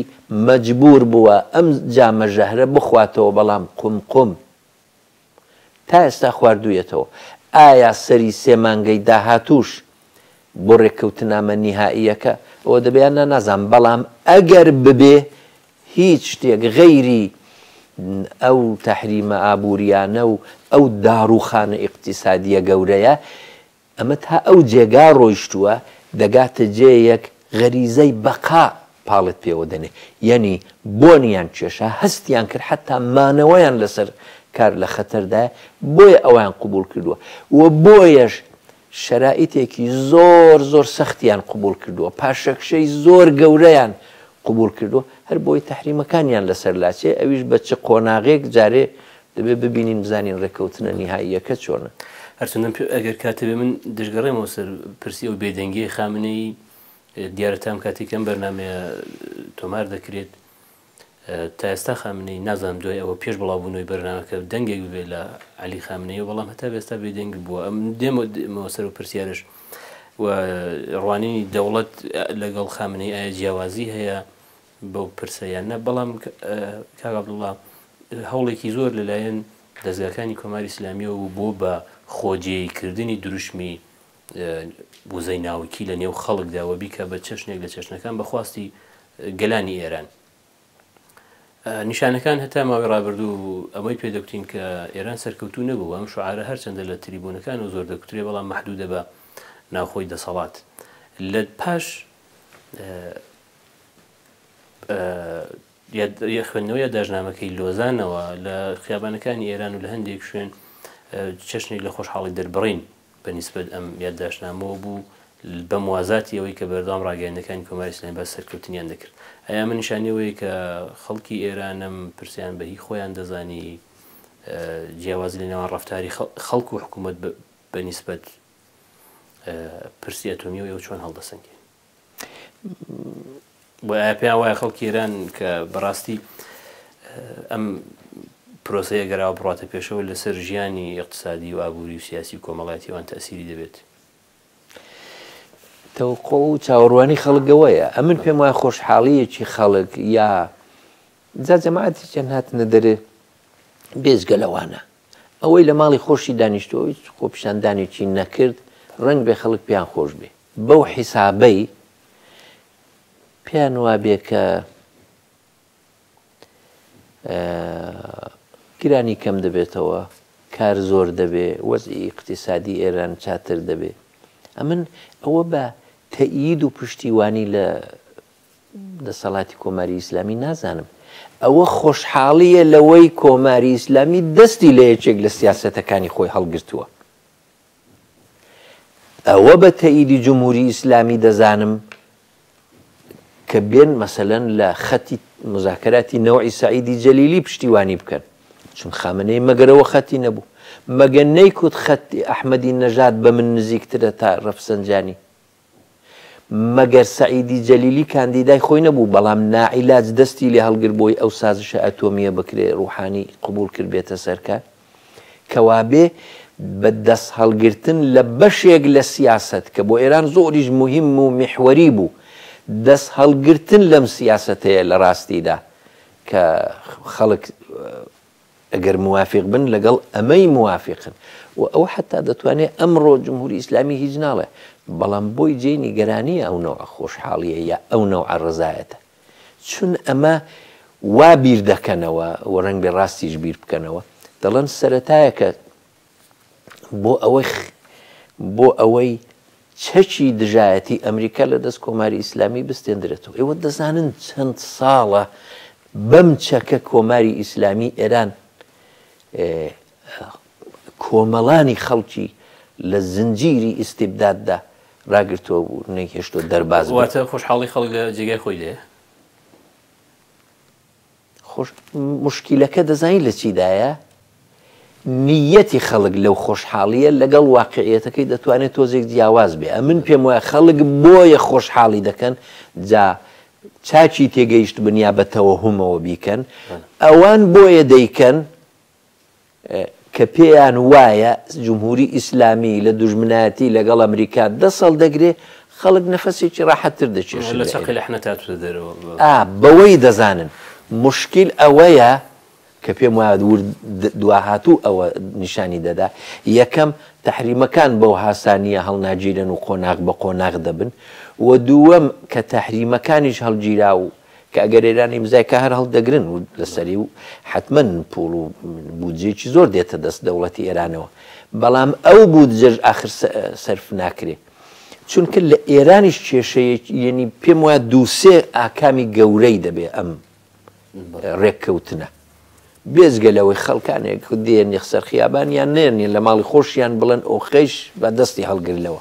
مەجبوور بووە ئەم جامە ژەهرە بخواتەوە بەڵام قوم قوم تا ئێستا خواردوویەتەوە ئایا سەری سێ مانگەی داهاتووش بۆ ڕێککەوتنامە نیهائیەکە ئەوە دەبێ یان نا نازانم بەڵام ئەگەر ببێ هیچ شتێک غەیری ئەو تەحریمە ئابووریانە و ئەو داڕووخانە ئیقتیسادییە گەورەیە، ئەمە تا ئەو جێگا ڕۆیشتووە دەگاتە جێیەک غەریزەی بەقا پاڵت پێوە دەنێ. یەنی بۆنیان کێشا، هەستیان کرد حەتتا مانەوەیان لەسەر کار لە خەتەردایە، بۆیە ئەویان قبووڵ کردووە و بۆیەش شەرائیتێکی زۆر زۆر سەختیان قبوڵ کردووە، پاشەکشەی زۆر گەورەیان قبوڵ کردووە، هەر بۆیە تەحریمەکانیان لەسەر لاچێ، ئەویش بە چ قۆناغێک جارێ دەبێ ببینین بزانین ڕێککەوتنە نیهاییەکە چۆنە. هەرچەندەم پێ ئەگەر کات هەبێ من دەشگەڕێمەوە سەر پرسی ئەو بێدەنگیەی خامنەیی، دیارە تام کاتێک ئەم بەرنامەیە تۆمار دەکرێت، تا ئێستا خامنەیی نازانم دوای ئەوە پێش بڵاوبوونەوەی بەرنامەکە دەنگێک ببێت لە عەلی خامنەیە بەڵام هەتا ئێستا بێدەنگ بووە ئەم دێمەوە سەر و پرسیارش و ڕوانینی دەوڵەت لەگەڵ خامنەی ئایا جیاوازی هەیە بەو پرسەیان نە بەڵام کاگابدوڵام هەوڵێکی زۆر لەلایەن دەزگاکانی کۆماری ئسلامیەوە بۆ بە خۆجێی کردنی دروشمی وزەی ناوکی لە نێو خەڵکدا و بیکە بە چەشنێک لە چەشنەکان بە خواستی گەلانی ئێران. نیشانەکان هەتا ماوەی ڕابردوو ئەمەی پێدەکتین کە ئێران سەرکەوتو نەبوو ئەم شعاعرە هەرچەندە لە تریبوونەکان و زۆر دەکوترێ بەڵام محدودە بە ناوخۆی دەسەڵات لە پاش خوێندنەوەی داژنامەکەی لۆزانەوە لە خیابانەکانی ئێران و لە هەندێک شوێن چەشنێک لە خۆشحاڵی دەربڕین بە نیسبەت ئەم یادداشتنامەوە بوو، بە موازاتی ئەوەی کە بەردەوام ڕاگەیاندنەکانی کۆماری ئیسلامی باسی سەرکەوتنیان دەکرد. ئەی ئەمە نیشانەی ئەوەیە کە خەڵکی ئێرانم پرسیان بە هی خۆیان دەزانی؟ جیاوازی لە نێوان ڕەفتاری خەڵک و حکوومەت بە نیسبەت پرسی ئەتۆمییەوە ئێوە چۆن هەڵدەسەنگێنن؟ بۆیە ئایا پێیان وایە خەڵکی ئێران کە بەڕاستی ئەم پرۆسەیە گەراوە بڕاتە پێشەوە لەسەر ژیانی اقتصادی و ئابووری و سیاسی و کۆمەڵاتیوان تەسیری دەبێت تەوقع و چاوەڕوانی خەڵگەوەیە ئەمن پێم وایە خۆشحاڵیەکی خەڵک یا جا جەماعەتی چەند هاتنە دەرێ بێزگە لەوانە ئەوەی لە ماڵی خۆشی دانیشتووە و هیچ خۆپیشاندانێکی نەکرد، ڕەنگبێ خەڵک پێیان خۆش بێ. بەو حیسابەی پێیان وابێ کە گرانی کەم دەبێتەوە، کار زۆر دەبێ، وەزعی ئیقتیسادی ئێران چاتر دەبێ. ئەمن ئەوە بە تەئیید و پشتیوانی لە دەسەڵاتی کۆماری ئیسلامی نازانم ئەوە خۆشحاڵییە لەوەی کۆماری ئیسلامی دەستی لە یەکێک لە سیاسەتەکانی خۆی هەڵگرتووە ئەوە بە تەئیدی جمهوری ئیسلامی دەزانم کە بێن مەسەلەن لە خەتی مزاکەراتی نەوەی سعیدی جەلیلی پشتیوانی بکەن چون خامنەی مەگەرەوە خەتی نەبوو مەگەن نەیکوت خەتی ئەحمەدی نەژاد بە من نزیکترە تا ڕەفسەنجانی مەگەر سەعیدی جەلیلی کاندیدای خۆی نەبوو بەڵام ناعیلاج دەستی لێ هەڵگر بۆی ئەو سازشە ئەتۆمیە بکرێ روحانی قبوڵ کرد بێتە سەرکار کەوابێ بە دەست هەڵگرتن لە بەشێک لە سیاسەت کە بۆ ئێران زۆریش موهیم و میحوەری بوو دەست هەڵگرتن لەم سیاسەتەیە لە راستیدا کە خەڵک ئەگەر موافق بن لەگەڵ ئەمەی موافقن و ئەو حەتا دەتوانێ ئەمڕۆ جمهوری ئیسلامی هیچ ناڵێ بەڵام بۆی جێی نیگەرانیە ئەو نەوعە خۆشحاڵیە یا ئەو نەوعە ڕەزایەتە چون ئەمە وا بیر دەکەنەوە و ڕەنگبێ ڕاستیش بیر بکەنەوە دەڵێن سەرەتایەکە بۆ ئەوەی بۆ ئەوەی چەکی دژایەتی ئەمریکا لە دەست کۆماری ئیسلامی بستێندرێتەوە ئێوە دەزانن چەند ساڵە بەم چەکە کۆماری ئیسلامی ئێران کۆمەڵانی خەڵکی لە زنجیری ئیسیبداددا راگرتەوە بوو نەیهێشتۆ دەرباز واتە خۆشحاڵی خەڵک لە جێگای خۆی لێ خۆش موشکیلەکە دەزانی لە چیدایە؟ نیەتی خەڵک لەو خۆشحاڵیە لەگەڵ واقعیەتەکەی دەتوانێت تۆزێک جیاواز بێ ئەمن پێم وایە خەڵک بۆیە خۆشحاڵی دەکەن جا چاچی تێگەیشت بنیا بە تەوەهومەوە بیکەن ئەوان بۆیە دەیکەن کە پێیان وایە جمهوری ئیسلامی لە دوژمنایەتی لەگەڵ ئەمریکا دەست هەڵدەگرێ، خەڵک نەفەسێکی ڕاحەتتر دەکێشن. لە چەقی لەحنە تا چووتە دەرەوە. ئا، بەوەی دەزانن. موشکیل ئەوەیە، کە پێم وایە ورد دواهاتوو ئەوە نیشانی دەدا، یەکەم، تەحریمەکان بەو هاسانییە هەڵناگیرێن و قۆناغ بە قۆناغ دەبن و دووەم، کە تەحریمەکانیش هەڵگیرا و کە ئەگەر ئێران ئیمزای کا هەر هەڵدەگرن و لەسەری و حەتمەن پووڵ و بودجەیەکی زۆر دێتە دەست دەوڵەتی ئێرانەوە بەڵام ئەو بودجەش ئاخر سەرف ناکرێ چونکە لە ئێرانیش کێشەیەکی یەنی پێم وایە دووسێ ئاکامی گەورەی دەبێ ئەم ڕێککەوتنە بێزگە لەوەی خەڵکانێک دێن یەخسەر خیابانیان نێنی لە ماڵی خۆشیان بڵێن ئۆخەیش بە دەستی هەڵگرلەوە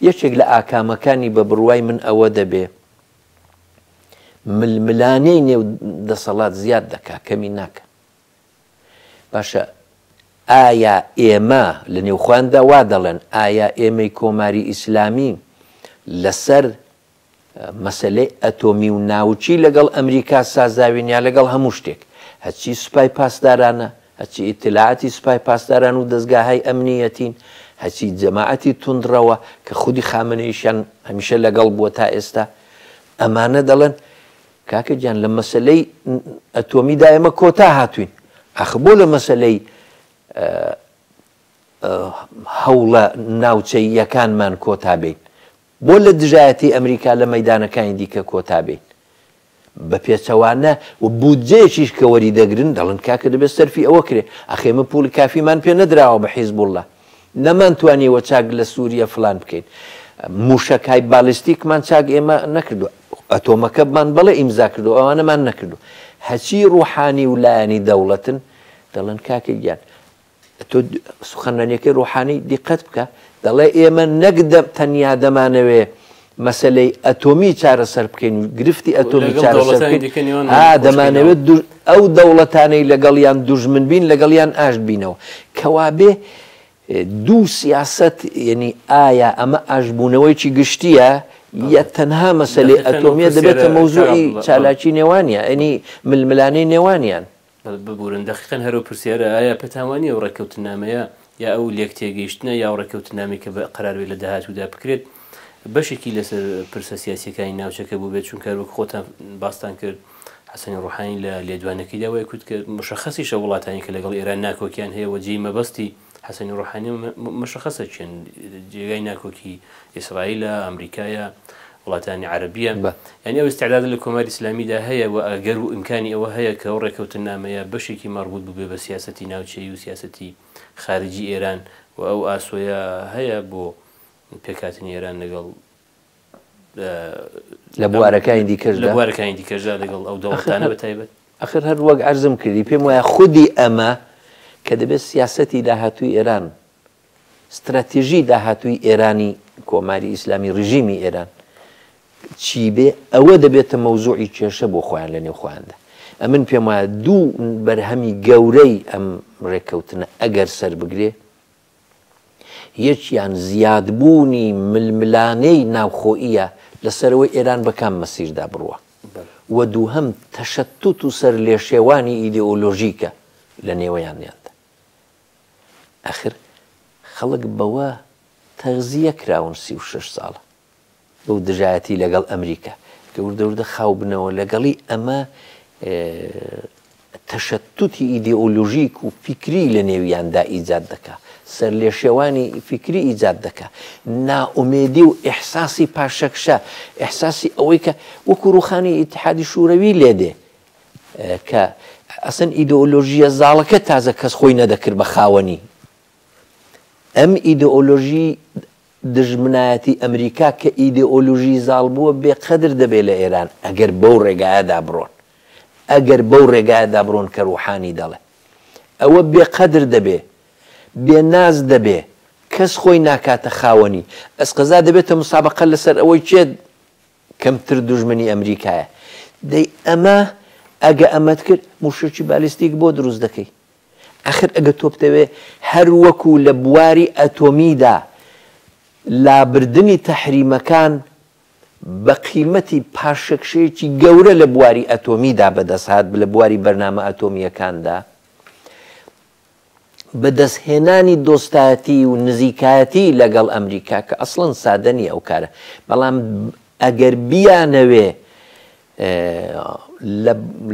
یەکێک لە ئاکامەکانی بە بڕوای من ئەوە دەبێ ململانێی نێو دەسەڵات زیاد دەکات کەمی ناکە باشە ئایا ئێمە لە نێوخواندا وا دەڵێن ئایا ئێمەی کۆماری ئیسلامی لەسەر مەسلەی ئەتۆمی و ناوچی لەگەڵ ئەمریکا سازاوینیا لەگەڵ هەموو شتێک هەچی سوپای پاسدارانە هەرچی ئیتلاعاتی سپای پاسداران و دەزگاهای ئەمنییەتین، هەرچی جەماعەتی توندڕەوە کە خودی خامنەییشیان هەمیشە لەگەڵ بووە تا ئێستا، ئەمانە دەڵێن، کاکە گیان لە مەسەلەی ئەتۆمیدا ئێمە کۆتا هاتووین، ئاخر بۆ لە مەسەلەی هەوڵە ناوچەییەکانمان کۆتا بێین؟ بۆ لە دژایەتی ئەمریکا لە مەیدانەکانی دیکە کۆتا بێین؟ بە پێچەوانە و بودجەیەکیش کە وەریدەگرن دەڵێن کاکە دەبێت سەرفی ئەوە کرێ، ئەخێ ئێمە پوڵی کافیمان پێ نەدراوە بە حیزبوڵڵا، نەمانتوانیوە چاک لە سووریە فڵان بکەین، مووشەکهای بالیستیکمان چاک ئێمە نەکردووە، ئەتۆمەکەمان بەڵێ ئیمزا کردووە، ئەوانەمان نەکردووە. هەچی ڕووحانی و لایەنی دەوڵەتن دەڵێن کاکە گیان، تۆ سخنرانیەکەی ڕوحانی دیقەت بکە دەڵێ ئێمە نەک تەنیا دەمانەوێ مەسلەی ئەتۆمی چارەسەر بکەین و گرفتی ئەتۆمی چارەسەر دەمانەوێت ئەو دەوڵەتانەی لەگەڵیان دوژمن بین لەگەڵیان ئاشت بینەوە کەوابێ دوو سیاست یعنی ئایا ئەمە ئاشبوونەوەیکی گشتیە یە تەنها مەسلەی ئەتۆمیە دەبێتە مەوزوعی چالاکی نێوانە ئەنی ململانەی نێوانیان ببورن دەقیقەن هەرەو پرسیارە ئایا پێتان وانیە ئەو ڕێککەوتننامەیە یا ئەو لێکتێگەیشتنە یا ئەو ڕێککەوتننامەی کە قەرار بێت لە داهاتوودا بکرێت بەشێکی لەسەر پرسە سیاسیەکانی ناوچەکە بووبێت چونکە وەک خۆتان باستان کرد حەسەنی ڕوحانی لە لێدوانەکەیدا وای کوت کە مشخصیشە وڵاتانی کە لەگەڵ ئێران ناکۆکیان هەیە وە جێی مەبەستی حەسەنی و ڕۆحانی و مشەخەسە چیەن جێگای ناکۆکی ئیسرائیلە ئەمریکایە وڵاتانی عەرەبیە یعنی ئەو استعداد لە کۆماری ئیسلامیدا هەیە و ئەگەر و ئیمکانی ئەوە هەیە کە ئەو ڕێکەوتنامەیە بەشێکی مەڕبوط ببێ بە سیاسەتی ناوچەیی و سیاسەتی خارجی ئێران و ئەو ئاسۆیە هەیە بۆ پێکهاتنی ئێران لەگەڵ لە بوارەکانی دیکەشدا لە بوارەکانی دیکەشدا لەگەڵ ئەو دەوڵەتانە بە تایبەت ئەخر هەر وەک عەرزم کردی پێم وایە خودی ئەمە کە دەبێت سیاسەتی داهاتووی ئێران ستراتیژی داهاتووی ئێرانی کۆماری ئیسلامی ڕژیمی ئێران چی بێ ئەوە دەبێتە مەوزوعی کێشە بۆ خۆیان لە نێو خۆیاندا ئەمن پێم وایە دوو بەرهەمی گەورەی ئەم ڕێککەوتنە ئەگەر سەر بگرێ یەکیان زیادبوونی ململانێی ناوخۆییە لەسەرەوەی ئێران بە کام مەسیردا بڕوا و دووهەم تەشەتوت و سەرلێشێوانی ئیدئۆلۆژیکە لە نێوەیانیاندا. ئاخر خەڵک بەوە تەغزییە کراون سی و شەش ساڵە. بەو دژایەتی لەگەڵ ئەمریکا کە وردە وردە خاو بنەوە لەگەڵی ئەمە تەشەتوتی ئیدئۆلۆژیک و فیکری لە نێویاندا ئیجاد دەکا سەر لێ شێوانی فیکری ئیجاد دەکا ناومێدی و ئحساسی پاشەکشە ئحساسی ئەوەی کە وەکو ڕوخانی ئیتحادی شوورەوی لێ دێ کە ئەسن ئیدۆلۆژیە زاڵەکە تازە کەس خۆی نەدەکرد بە خاوەنی ئەم ئیدۆلۆژی دژمنایەتی ئەمریکا کە ئیدئۆلوژی زاڵ بووە بێ قەدر دەبێ لە ئێران ئەگەر بەو ڕێگایەدا بڕۆن ئەگەر بەو ڕێگایەدا بڕۆن کە ڕوحانی دەڵێ ئەوە بێ قەدر دەبێ بێ ناز دەبێ کەس خۆی ناکاتە خاوەنی ئەسقەزا دەبێتە مسابەقە لە سەر ئەوەی کێ کەمتر دوژمنی ئەمریکایە دەی ئەمە ئەگە ئەمەت کرد موشەکی بالیستیک بۆ دروست دەکەی ئاخر ئەگەر تۆ بتەوێ هەر وەکو لە بواری ئەتۆمیدا لابردنی تەحریمەکان بە قیمەتی پاشەکشەیەکی گەورە لە بواری ئەتۆمیدا بەدەستهات لە بواری بەرنامە ئەتۆمییەکاندا بەدەستهێنانی دۆستایەتی و نزیکایەتی لەگەڵ ئەمریکا کە ئەسڵەن سادە نیە ئەو کارە بەڵام ئەگەر بیانەوێ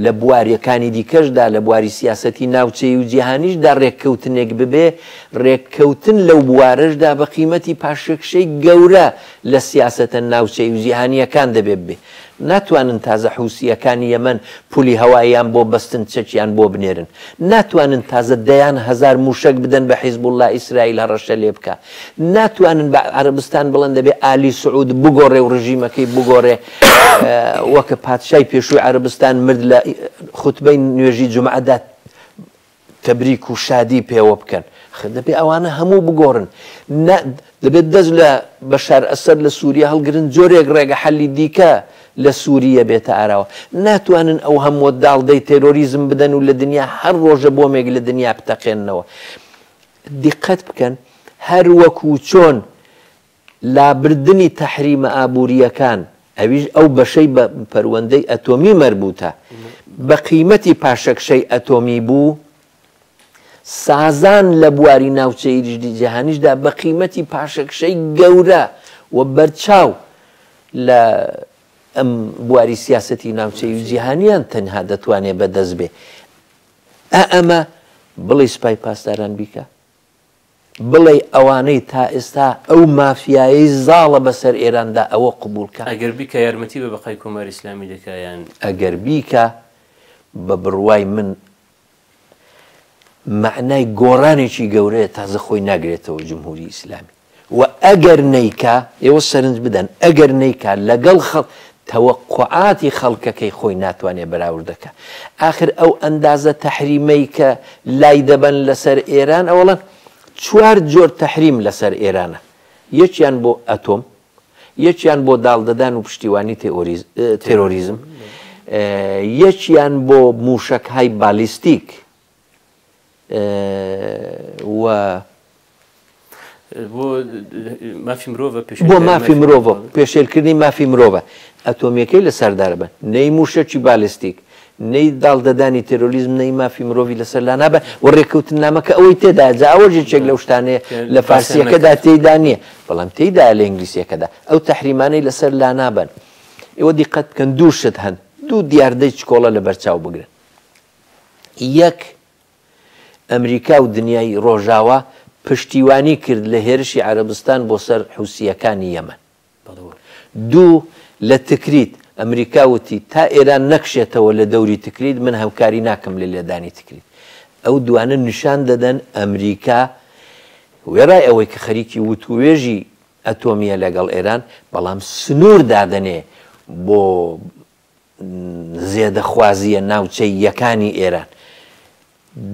لە بوارەکانی دیکەشدا لە بواری سیاسەتی ناوچەی و جیهانیشدا رێککەوتنێک ببێ رێککەوتن لەو بوارەشدا بە قیمەتی پاشەکشەی گەورە لە سیاسەتە ناوچەی و جیهانییەکان دەبێ ببێ ناتوانن تازە حوسییەکانی یەمەن پولی هەواییان بۆ بەستن چەکیان بۆ بنێرن ناتوانن تازە دەیان هەزار موشەک بدەن بە حیزبوڵڵا ئیسرائیل هەڕەشە لێ بکا ناتوانن بە عەرەبستان بڵێن دەبێ ئالی سعود بگۆڕێ و ڕژیمەکەی بگۆڕێ وەکە پادشای پێشووی عەرەبستان مرد لە خوتبەی نوێژی جومعەدا تەبریک و شادی پێوە بکەن دەبێ ئەوانە هەموو بگۆڕن دەبێت دەست لە بەشار ئەسەر لە سووریە هەڵگرن جۆرێک ڕێگە حەلی دیکە لە سووریە بێتە ئاراوە ناتوانن ئەو هەموو داڵدەی تێرۆریزم بدەن و لە دنیا هەر ڕۆژە بۆمێک لە دنیا بتەقێنەوە دیقەت بکەن هەر وەکو چۆن لابردنی تەحریمە ئابوورییەکان ئەویش ئەو بەشەی بە پەروەندەی ئەتۆمی مەربووتە بە قیمەتی پاشەکشەی ئەتۆمی بوو سازان لە بواری ناوچەیریشدی جیهانیشدا بە قیمەتی پاشەکشەی گەورە و بەرچاو لە ئەم بواری سیاستی ناوچەی و جیهانیان تەنها دەتوانێت بەدەست بێ ئا ئەمە بڵێی سپای پاسداران بیکا؟ بڵێی ئەوانەی تا ئێستا ئەو مافیایەی زاڵە بە سەر ئێراندا ئەوە قبووڵ کا؟ ئەگەر بیکا یارمەتی بە بەقای کۆماری ئیسلامی دەکا یان؟ ئەگەر بیکا بە بڕوای من مەعنای گۆڕانێکی گەورەیە تازە خۆی ناگرێتەوە جمهووری ئیسلامی. و ئەگەر نەیکا، ئێوە سەرنج بدەن، ئەگەر نەیکا لەگەڵ خە تەوەقوعاتی خەڵکەکەی خۆی ناتوانێ بەراورد کە. ئاخر ئەو ئەندازە تەحریمەی کە لای دەبەن لەسەر ئێران ئەوەڵەن چوار جۆر تەحریم لەسەر ئێرانە. یەکیان بۆ ئەتۆم، یەکیان بۆ داڵدەدان و پشتیوانی تێئۆریز تێرۆریزم، یەکیان بۆ مووشەکهای بالیستیک بۆ مافی مرۆڤە پێشێلکردنی مافی مرۆڤە ئەتۆمیەکەی لە سەردار بن نەی مووشەکی بالستیک نەی داڵدەدانی تێرۆلیزم نەی مافی مرۆڤی لەسەر لا نابە و ڕێککەوتن نامەکە ئەوەی تێدا جاوە ژێچێک لەو شتانەیە لە فارسیەکەدا تێدا نییە بەڵام تێدا لە ئینگلیسیەکەدا ئەو تحریمانەی لەسەر لا نابن ئێوە دیقەت بکەن دوو شت هەن دوو دیاردەی چکۆڵە لە بەرچاو بگرن یەک، ئەمریکا و دنیای ڕۆژاوا پشتیوانی کرد لە هێرشی عەرەبستان بۆ سەر حوسییەکانی یەمەن. دوو، لە تکریت، ئەمریکا وتی، تا ئێران نەکشێتەوە لە دەوری تکریت، من هەمکاری ناکەم لە لێدانی تکریت. ئەو دوانە نیشان دەدەن ئەمریکا وێڕای ئەوەی کە خەریکی وتووێژی ئەتۆمییە لەگەڵ ئێران، بەڵام سنوور دادەنێ بۆ زێدەخوازییە ناوچەییەکانی ئێران.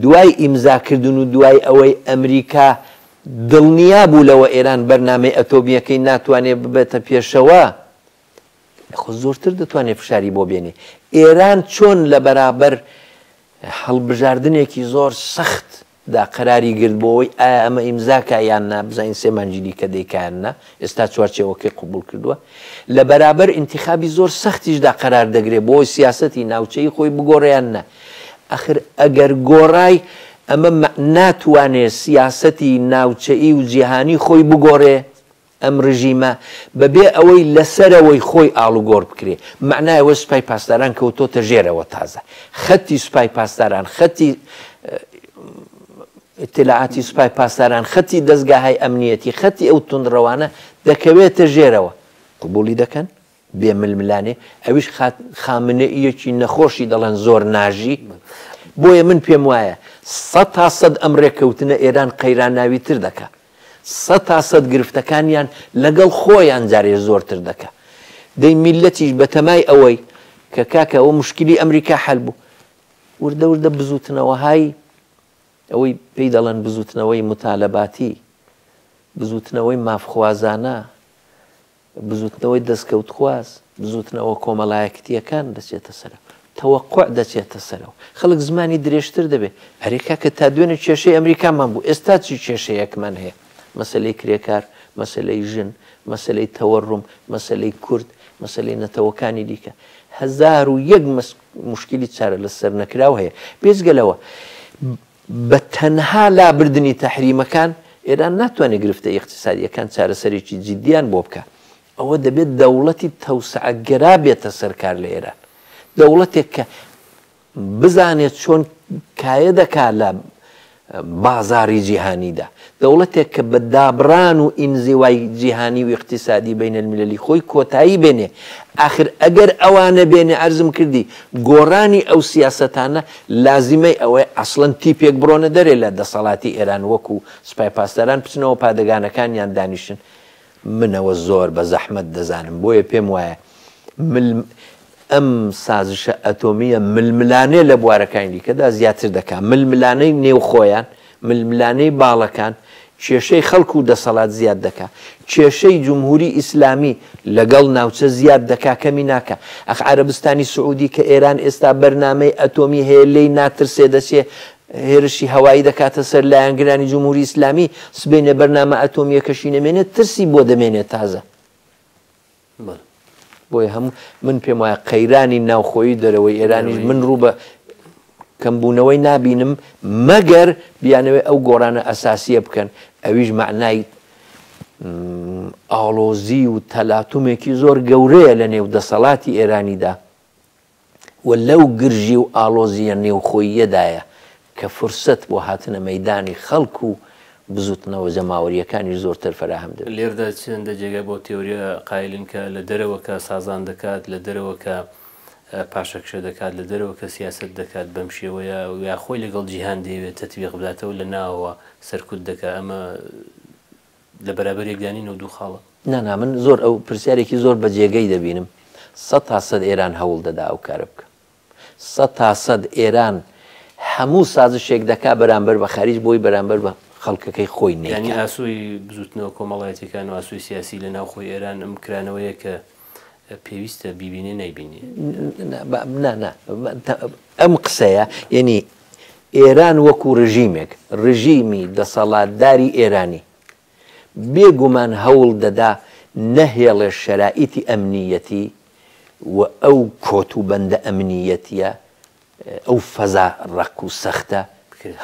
دوای ئیمزاکردن و دوای ئەوەی ئەمریکا دڵنیا بوو لەوە ئێران بەرنامەی ئەتۆمییەکەی ناتوانێ ببێتە پێشەوە، خۆ زۆرتر دەتوانێ فشاری بۆ بێنێ. ئێران چۆن لە بەرابەر هەڵبژاردنێکی زۆر سەخت، دا قەراری گرت بۆ وەی ئایا ئەمە ئیمزا کا یان نا بزانین سێ مانگی دیکە دەیکا یان نا ئێستا چوارچێوەکەی قبوڵ کردوە لە بەرابەر ئینتیخابی زۆر سەختیش دا قەرار دەگرێ بۆ وەی سیاسەتی ناوچەیی خۆی بگۆڕێ یان نا ئەخر ئەگەر گۆڕای ئەمە مە ناتوانێ سیاسەتی ناوچەیی و جیهانی خۆی بگۆڕێ ئەم رژیمە بەبێ ئەوەی لەسەرەوەی خۆی ئاڵوگۆڕ بکرێ مەعنای ئەوەی سوپای پاسداران کەوتۆتە ژێرەوە تازە خەتی سوپای پاسداران خەتی ئیتلاعاتی سوپای پاسداران خەتی دەستگاهای ئەمنیەتی خەتی ئەو توندڕەوانە دەکەوێتە ژێرەوە قبولی دەکەن بێ ململانێ ئەویش خات خامنەییەکی نەخۆشی دەڵێن زۆر ناژی بۆیە من پێم وایە سە تا سەد ئەم ڕێککەوتنە ئێران قەیراناوی تر دەکە سە تا سەد گرفتەکانیان لەگەڵ خۆیان جارێ زۆرتر دەکە دەی میلەتیش بەتەمای ئەوەی کە کاکە ئەوە مشکلی ئەمریکا حل بوو وردە وردە بزوتنەوەهای ئەوەی پێی دەڵێن بزوتنەوەی متالەباتی بزوتنەوەی مافخوازانە بزوتنەوەی دەستکەوتخواز، بزوتنەوە کۆمەلایەکتیەکان دەچێتە سەرەوە، تەوەقوع دەچێتە سەرەوە، خەلک زمانی درێژتر دەبێت، ئەرێ کاکە تا دوێنێ کێشەی ئەمریکامان بوو ئێستا چی کێشەیەکمان هەیە، مەسەلەی کرێکار، مەسەلەی ژن، مەسەلەی تەوەروم، مەسەلەی کورد، مەسەلەی نەتەوەکانی دیکە، هەزار و یەک موشکیلی چارەلەسەرنەکراو هەیە، بێجگە لەوە. بە تەنها لابردنی تەحریمەکان ئێران ناتوانێت گرفتە ئیقتیسادییەکان چارەسەرێکی جیددییان بۆ بکات، ئەوە دەبێت دەوڵەتی تەوسعەگەرا بێتە سەر کار لە ئێران، دەوڵەتێک کە بزانێت چۆن کایە دەکات لە بازاڕی جیهانیدا، دەوڵەتێک کە بە دابڕان و ئینزیوای جیهانی و ئیقتیسادی بین المللی خۆی کۆتایی بێنێ، ئاخر ئەگەر ئەوە نەبێنێ عەرزم کردی گۆڕانی ئەو سیاسەتانە لازیمەی ئەوەیە ئەسڵەن تیپێک بڕۆنە دەرێ لە دەسەڵاتی ئێران وەکوو سپای پاسداران بچنەوە پادەگانەکانیان دانیشن من ئەوە زۆر بە زەحمەت دەزانم بۆیە پێم وایە مل ئەم سازشە ئەتۆمییە ململانێ لە بوارەکانی دیکەدا زیاتر دەکات ململانەی نێوخۆیان ململانەی باڵەکان کێشەی خەڵک و دەسەڵات زیاد دەکا کێشەی جمهوری ئیسلامی لەگەڵ ناوچە زیاد دەکا کەمی ناکە ئەخ عربستانی سعودی کە ئێران ئێستا بەرنمەی ئەتۆمی هەیە لی ناترسێ دەچێ هێرشی هەوایی دەکاتە سەر لایەنگرانی جمهوری ئیسلامی سبەینێ بەرنامە ئەتۆمییەکەشی نەمێنێت ترسی بۆ دەمێنێت تازە بۆیە هەموو من پێم وایە قەیرانی ناوخۆی دەرەوەی ئێرانیش من ڕوو بە کەمبوونەوەی نابینم مەگەر بیانەوەی ئەو گۆڕانە ئەساسیە بکەن ئەویش معنای ئاڵۆزی و تەلاتومێکی زۆر گەورەیە لە نێو دەسەڵاتی ئێرانیدا و لەو گرژی و ئاڵۆزییە نێوخۆییەدایە کە فرسەت بۆ هاتنە مەیدانی خەڵک و بزووتنەوە جەماوەرییەکانی زۆرتر فەراهەم دەبێت. لێردا چەندە جێگای بۆ تێۆرییە قایلین کە لە دەرەوە کە سازان دەکات، لە دەرەوە کە پاشەکشە دەکات، لە دەرەوە کە سیاسەت دەکات، بەم شێوەیە یا خۆی لەگەڵ جیهان دەیەوێت تەتبیق بداتەوە لە ناوەوە سەرکوت دەکات، ئەمە لە بەرابەر یەکدا نین و دوو خاڵە. نا نا من زۆر ئەو پرسیارێکی زۆر بە جێگەی دەبینم سەد تا سەد ئێران هەوڵ دەدا ئەو کارە بکا سەد تا سەد ئێران هەموو سازشێک دەکا بەرامبەر بە خەریج بۆی بەرامبەر بە خەڵکەکەی خۆی نەیکا. یانی ئاسۆی بزووتنەوە کۆمەڵایەتیەکان و ئاسۆی سیاسی لە ناوخۆی ئێران ئەم کرانەوەیە کە پێویستە بیبینێ نەیبینی. نا نا ئەم قسەیە یعنی ئێران وەکو ڕژیمێک ڕژیمی دەسەڵاتداری ئێرانی بێگومان هەوڵ دەدا نەهێڵێ شەرائیتی ئەمنیەتی و ئەو کۆت و بەندە ئەمنیەتیە ئەو فەزا ڕەق و سەختە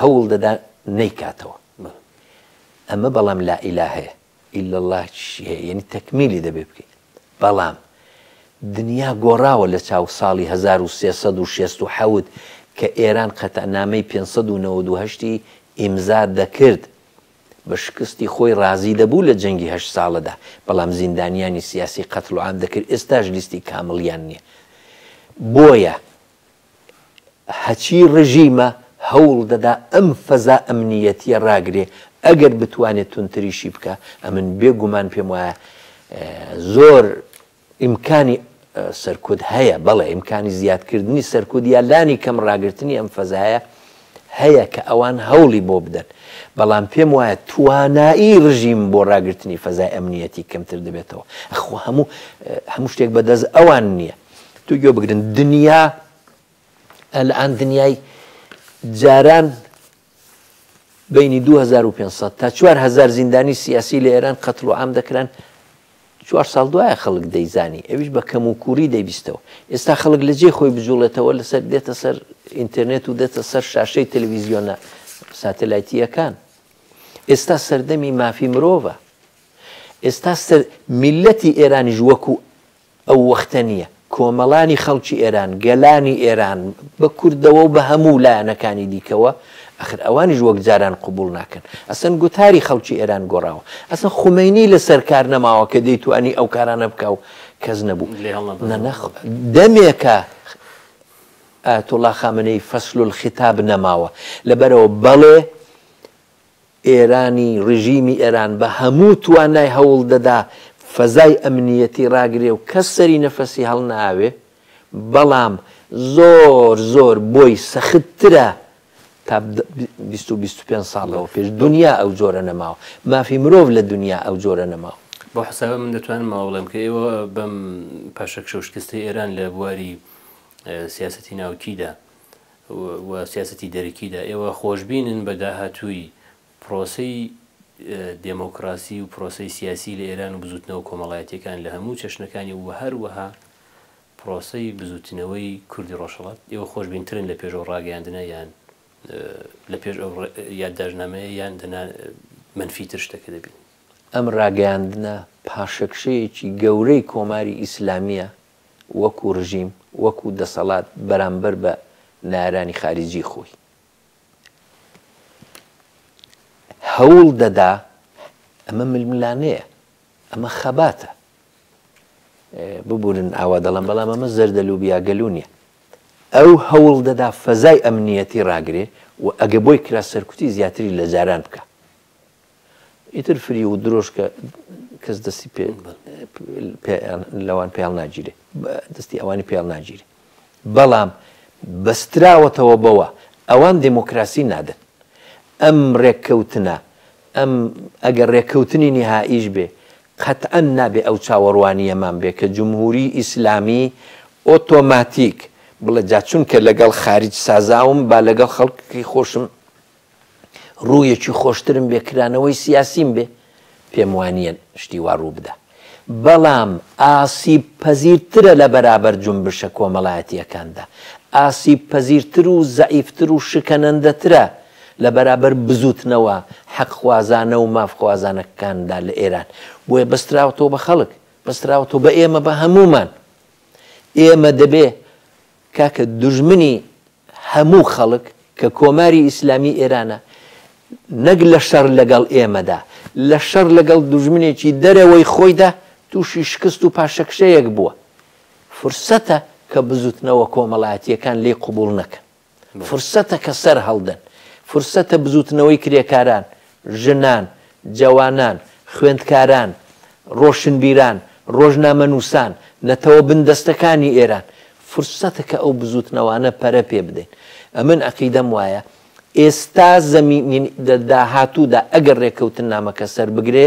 هەوڵ دەدا نەیکاتەوە ئەمە بەڵام لائیلاهەیە. الا اللە چی هەیە یەنی تەکمیلی دەبێ بکەیت بەڵام دنیا گۆڕاوە لە چاو ساڵی هەزار و سێ سەد و شێست و حەوت کە ئێران قەتعنامەی پێنج سەد و نەوەد و هەشت ی ئیمزا دەکرد بە شکستی خۆی ڕازی دەبوو لە جەنگی هەشت ساڵەدا بەڵام زیندانیانی سیاسی قەتڵوعام دەکرد ئێستاش لیستی کامڵیان نیە بۆیە هەچی ڕژیمە هەوڵ دەدا ئەم فەزا ئەمنییەتییە ڕاگرێ، ئەگەر بتوانێ توندتریشی بکا، ئەمن بێ گومان پێم وایە زۆر ئیمکانی سەرکوت هەیە، بەڵێ ئیمکانی زیادکردنی سەرکوت یا لانی کەم ڕاگرتنی ئەم فەزایە هەیە کە ئەوان هەوڵی بۆ بدەن، بەڵام پێم وایە توانایی ڕژیم بۆ ڕاگرتنی فەزای ئەمنییەتی کەمتر دەبێتەوە، ئەخۆ هەموو هەموو شتێک بە دەست ئەوان نییە. دوو گوێ بگرن دنیا ئەلان دنیای جاران بینی 2500 تا 4هزار زیندانی سیاسی لە ئێران قەتل و عام دەکران چوار ساڵ دوایە خەڵک دەیزانی ئەویش بە کەم و کوری دەبیستەوە ئێستا خەڵک لە جێ خۆی بجوڵێتەوە لەسەر دێتە سەر ئینتەرنێت و دێتە سەر شاشەی تەلویزیۆنە ساتەلایتیەکان ئێستا سەردەمی مافی مرۆڤە ئێستا سەر میلەتی ئێرانیش وەکو ئەو وەختە نییە کۆمەڵانی خەڵکی ئێران، گەلانی ئێران، بە کوردەوە و بە هەموو لایەنەکانی دیکەوە، ئاخر ئەوانیش وەک جاران قبووڵ ناکەن. ئەسڵەن گوتاری خەڵکی ئێران گۆڕاوە. ئەسڵەن خومەینی لە سەر کار نەماوە کە دەیتوانی ئەو کارانە بکا و کەس نەبوو. دەمێکە ئایەتوڵڵا خامنەیی فصل الخطاب نەماوە. لەبەرئەوە بەڵێ، ئێرانی ڕژیمی ئێران بە هەموو توانای هەوڵ دەدا فەزای ئەمنییەتی ڕاگرێ و کەس سەری نەفەسی هەڵناوێ، بەڵام زۆر زۆر بۆی سەخت ترە تا بیست و بیست و پێنج ساڵ لەوە پێش دونیا ئەو جۆرە نەماوە، مافی مرۆڤ لە دونیا ئەو جۆرە نەماوە. بەو حەسابە من دەتوانم ئەوە بڵێم کە ئێوە بەم پاشەکشە و شکستەی ئێران لە بواری سیاسەتی ناوکیدا، و سیاسەتی دەرەکیدا، ئێوە خۆشبینن بە داهاتووی پرۆسەی دێمۆکڕاسی و پرۆسەی سیاسی لە ئێران و بزووتنەوە کۆمەڵایەتییەکان لە هەموو چەشنەکانی و هەروەها پرۆسەی بزووتنەوەی کوردی ڕۆژهەڵات، ئێوە خۆشبینترن لە پێش ئەو ڕاگەیاندنە یان لە پێش ئەو یادداشتنامەیە یان دەنا مەنفیتر شتەکە دەبینن؟ ئەم ڕاگەیاندنە پاشەکشەیەکی گەورەی کۆماری ئیسلامییە وەکو رژیم وەکو دەسەڵات بەرامبەر بە نارانی خاریجی خۆی هەوڵ دەدا ئەمە ململانێیە ئەمە خەباتە ببورن ئاوا دەڵم بەڵام ئەمە زەردە لوبیا گەلو نیە ئەو هەوڵ دەدا فەزای ئەمنیەتی ڕاگرێ و ئەگە بۆی کرا سەرکوتی زیاتری لە جاران بکە ئیتر فریو و درۆشکە کەس دەستی پێ لەوان پێڵ ناگیرێ دەستی ئەوانی پێڵ ناگیرێ بەڵام بەستراوەتەوە بەوە ئەوان دموکراسی نادن ئەم ڕێککەوتنە ئەم ئەگەر ڕێککەوتنی نهائیش بێ قەتعەن نابێ ئەو چاوەڕوانیەمان بێ کە جمهوری ئیسلامی ئۆتۆماتیک بڵێ جا چونکە لەگەڵ خارج سازاوم با لەگەڵ خەڵکی خۆشم ڕوویەکی خۆشترم بێ کرانەوەی سیاسیم بێ پێم وانییە شتی وا ڕوو بدا بەڵام ئاسیب پەزیرترە لە بەرابەر جونبشە کۆمەڵایەتیەکاندا ئاسیب پەزیرتر و زەعیفتر و شکەنەندەترە لە بەرابەر بزوتنەوە حەقخوازانە و مافخوازانەکاندا لە ئێران بۆیە بەستراوەتەوە بە خەڵک بەستراوەتەوە بە ئێمە بە هەمومان ئێمە دەبێ کاکە دوژمنی هەموو خەڵک کە کۆماری ئیسلامی ئێرانە نەک لە شەڕ لەگەڵ ئێمەدا، لە شەڕ لەگەڵ دوژمنێکی دەرەوەی خۆیدا تووشی شکست و پاشەکشەیەک بووە. فرسەتە کە بزووتنەوە کۆمەڵایەتییەکان لێی قبووڵ نەکەن. فرسەتە کە سەرهەڵدەن. فرسەتە بزووتنەوەی کرێکاران ژنان، جەوانان، خوێندکاران، ڕۆشنبیران، ڕۆژنامەنووسان، نەتەوە بندەستەکانی ئێران، فرسەتە کە ئەو بزووتنەوانە پەرە پێ بدەین. ئەمن عەقیدەم وایە ئێستا زەمین، داهاتوودا ئەگەر ڕێککەوتننامەکە سەر بگرێ،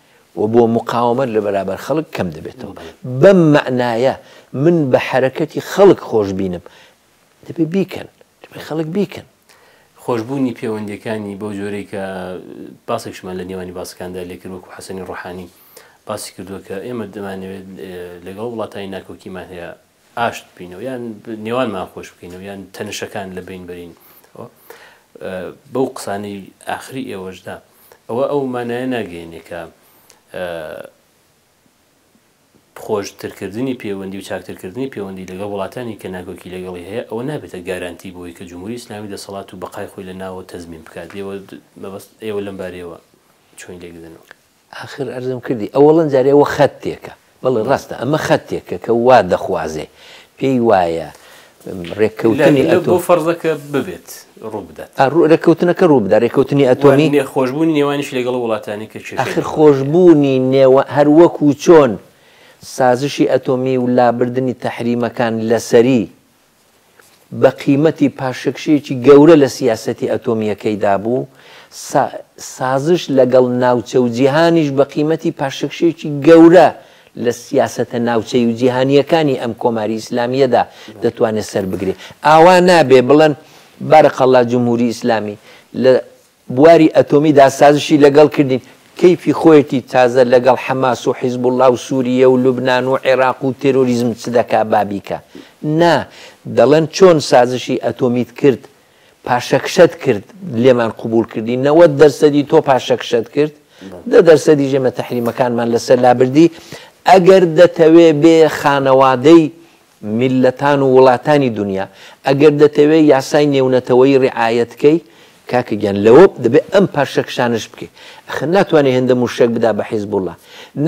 و بۆ مقاوەمەت لە بەرابەر خەڵک کەم دەبێتەوە. بەم مەعنایە من بە حەرەکەتی خەڵک خۆشبینم. دەبێت بیکەن. دەبێت خەڵک بیکەن. خۆشبوونی پێوەندییەکانی بەو جۆرەی کە باسێکشمان لە نێوانی باسەکاندا لێ کرد وەکوو حەسەنی ڕۆحانی باسی کردووە کە ئێمە دەمانەوێت لەگەڵ وڵاتانی ناکۆکیمان هەیە، ئاشت بینەوە یان نێوانمان خۆش بکەینەوە یان تەنشەکان لە بین بەرین بەو قسانەی ئاخری ئێوەشدا ئەوە ئەو مانایە ناگەێنێکە خۆشترکردنی پەیوەندی و چاکترکردنی پەیوەندی لەگەڵ وڵاتانی کە ناگۆکی لەگەڵی هەیە ئەوە نابێتە گارانتی بۆی کە جمهوری ئسلامی دەسەڵات و بەقای خۆی لە ناوە تەزمین بکات لێوە مەبەست ئێوە لەم بارەوە چۆن لێکدنەوە ئاخر ئەرزم کردی ئەوەڵەن جارێ ئەوە خەتێکە. بەڵێ ڕاستە ئەمە خەتێکە کە وا دەخوازێ پێی وایە ڕێککەوتنی ئەتۆم. لەبۆ فەرزە کە ببێت ڕوو بدات. ڕێککەوتنەکە ڕوو بدات ڕێککەوتنی ئەتۆمی. وە خۆشبوونی نێوانیشی لەگەڵ وڵاتانی کە چێشت. ئاخر خۆشبوونی نێوان هەر وەکوو چۆن سازشی ئەتۆمی و لابردنی تەحریمەکان لەسەری بە قیمەتی پاشەکشەیەکی گەورە لە سیاسەتی ئەتۆمییەکەیدا بوو، سازش لەگەڵ ناوچە و جیهانیش بە قیمەتی پاشەکشەیەکی گەورە لە سیاسەتە ناوچەیی و جیهانییەکانی ئەم کۆماری ئیسلامییەدا دەتوانێت سەربگرێت. ئاوا نابێت بڵێن، بارک اللە جمهوری اسلامی، لە بواری ئەتۆمی دا سازشی لە گەڵ کردین، کەیفی خۆیەتی تازە لە گەڵ حەماس و حیزبوڵا و سوورییە و لوبنان و عێراق و تێرۆریزم چ دەکا با بیکا. نا، دەڵێن چۆن سازشی ئەتۆمیت کرد، پاشەکشەت کرد، لێمان قبووڵ کردی، نەوەد دەرسەدی تۆ پاشەکشەت کرد، دە دەرسەدیش ئێمە تەحریمەکانمان لە سەر لا بردی، ئەگەر دەتەوێ بێ خانەوادەی میللەتان و وڵاتانی دونیا ئەگەر دەتەوێ یاسای نێونەتەوەیی ڕیعایەت کەی کاکە گیان لەوە دەبێ ئەم پارشە کشانەش بکەی ئەخر ناتوانێ هێندە موشەک بدا بە حیزبوڵا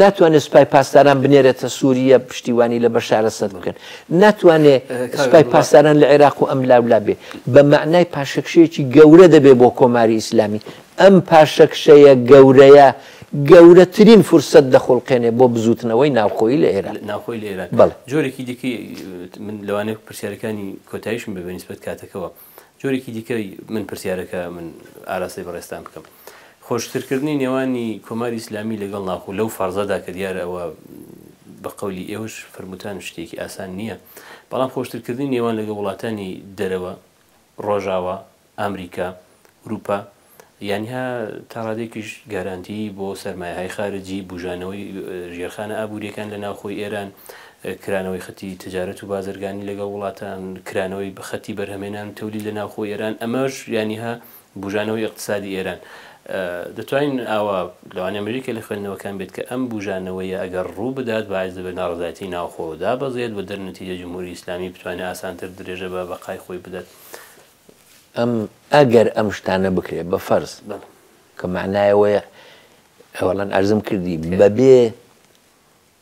ناتوانێ سوپای پاسداران بنێرێتە سوریە پشتیوانی لە بەشار ئەسەد بکەن ناتوانێ سوپای پاسداران لە عێراق و ئەم لاولا بێ بە مەعنای پاشەکشەیەکی گەورە دەبێ بۆ کۆماری ئیسلامی ئەم پاشەکشەیە گەورەیە گەورەترین فرسەت دەخوڵقێنێ بۆ بزووتنەوەی ناوخۆیی لە ئێران. ناوخۆی لە ئێران. بەڵێ. جۆرێکی دیکەی من لەوانەیە پرسیارەکانی کۆتایشم بێ بە نیسبەت کاتەکەوە. جۆرێکی دیکەی من پرسیارەکە من ئاراستەی بەڕێزتان بکەم. خۆشترکردنی نێوانی کۆماری ئیسلامی لەگەڵ ناوخۆ لەو فەرزەدا کە دیارە ئەوە بە قەولی ئێوەش فەرمووتان شتێکی ئاسان نییە، بەڵام خۆشترکردنی نێوان لەگەڵ وڵاتانی دەرەوە، ڕۆژاوا، ئامریکا، ئورووپا یانیها تا ڕادەیەکیش گارانتیی بۆ سەرمایەهای خارجی، بووژانەوەی ژێرخانە ئابوورییەکان لە ناوخۆی ئێران، کرانەوەی خەتی تجارەت و بازرگانی لەگەڵ وڵاتان، کرانەوەی خەتی بەرهەمهێنان و تەولید لە ناوخۆی ئێران، ئەمەش یانیها بووژانەوەی ئیقتسادی ئێران. دەتوانین ئاوا لەوانەیە مەریکە لە خوێندنەوەکان بێت کە ئەم بووژانەوەیە ئەگەر ڕوو بدات باعس دەبێت ناڕەزایەتی ناوخۆ دابەزێت و دەرنەتیجە جمهوری ئیسلامی بتوانێت ئاسانتر درێژە بە بەقای خۆی بدات. ئەم ئەگەر ئەم شتانە بکرێت بە فەرز کە مەعنای ئەوەیە ئەوەڵەن ئەرزم کردی بەبێ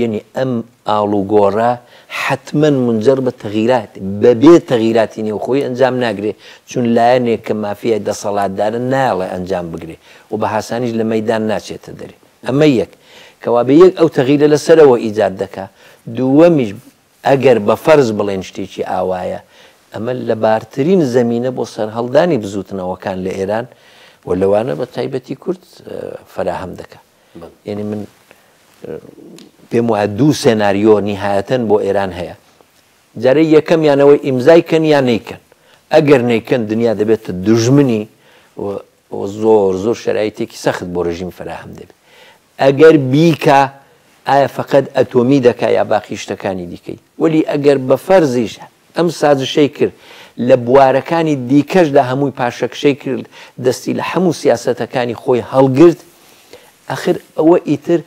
یەنی ئەم ئاڵوگۆڕە حەتمەن مونجەڕ بە تەغیرات بەبێ تەغیراتی نێوخۆیی ئەنجام ناگرێ، چون لایەنێک کە مافیای دەسەڵاتدارە نایەڵێ ئەنجام بگرێ و بە هاسانیش لە مەیدان ناچێتە دەرێ. ئەمە یەک. کەوابێ یەک ئەو تەغیرە لە سەرەوە ئیجاد دەکا. دووەمیش ئەگەر بە فەرز بڵێین شتێکی ئاوایە، ئەمە لەبارترین زەمینە بۆ سەرهەڵدانی بزووتنەوەکان لە ئێران و لەوانە بە تایبەتی کورد فەراهەم دەکا. یەنی من پێم وایە دوو سێناریۆ نیهایەتەن بۆ ئێران هەیە جارەی یەکەم یانەوەی ئیمزای کەن یان نیکەن ئەگەر نیکەن دنیا دەبێتە دژمنی زۆر زۆر شەرایتێکی سەخت بۆ ڕژیم فراهم دەبێت ئەگەر بیکە ئایا فقط ئەتۆمی دەکا یا باقی شتەکانی دیکەی وەلی ئەگەر بە فەرزیش ئەم سازشەی کرد لە بوارەکانی دیکەشدا هەمووی پاشەکشەی کرد دەستی لە حەموو سیاسەتەکانی خۆی هەڵگرت ئەخر ئەوە ئیتر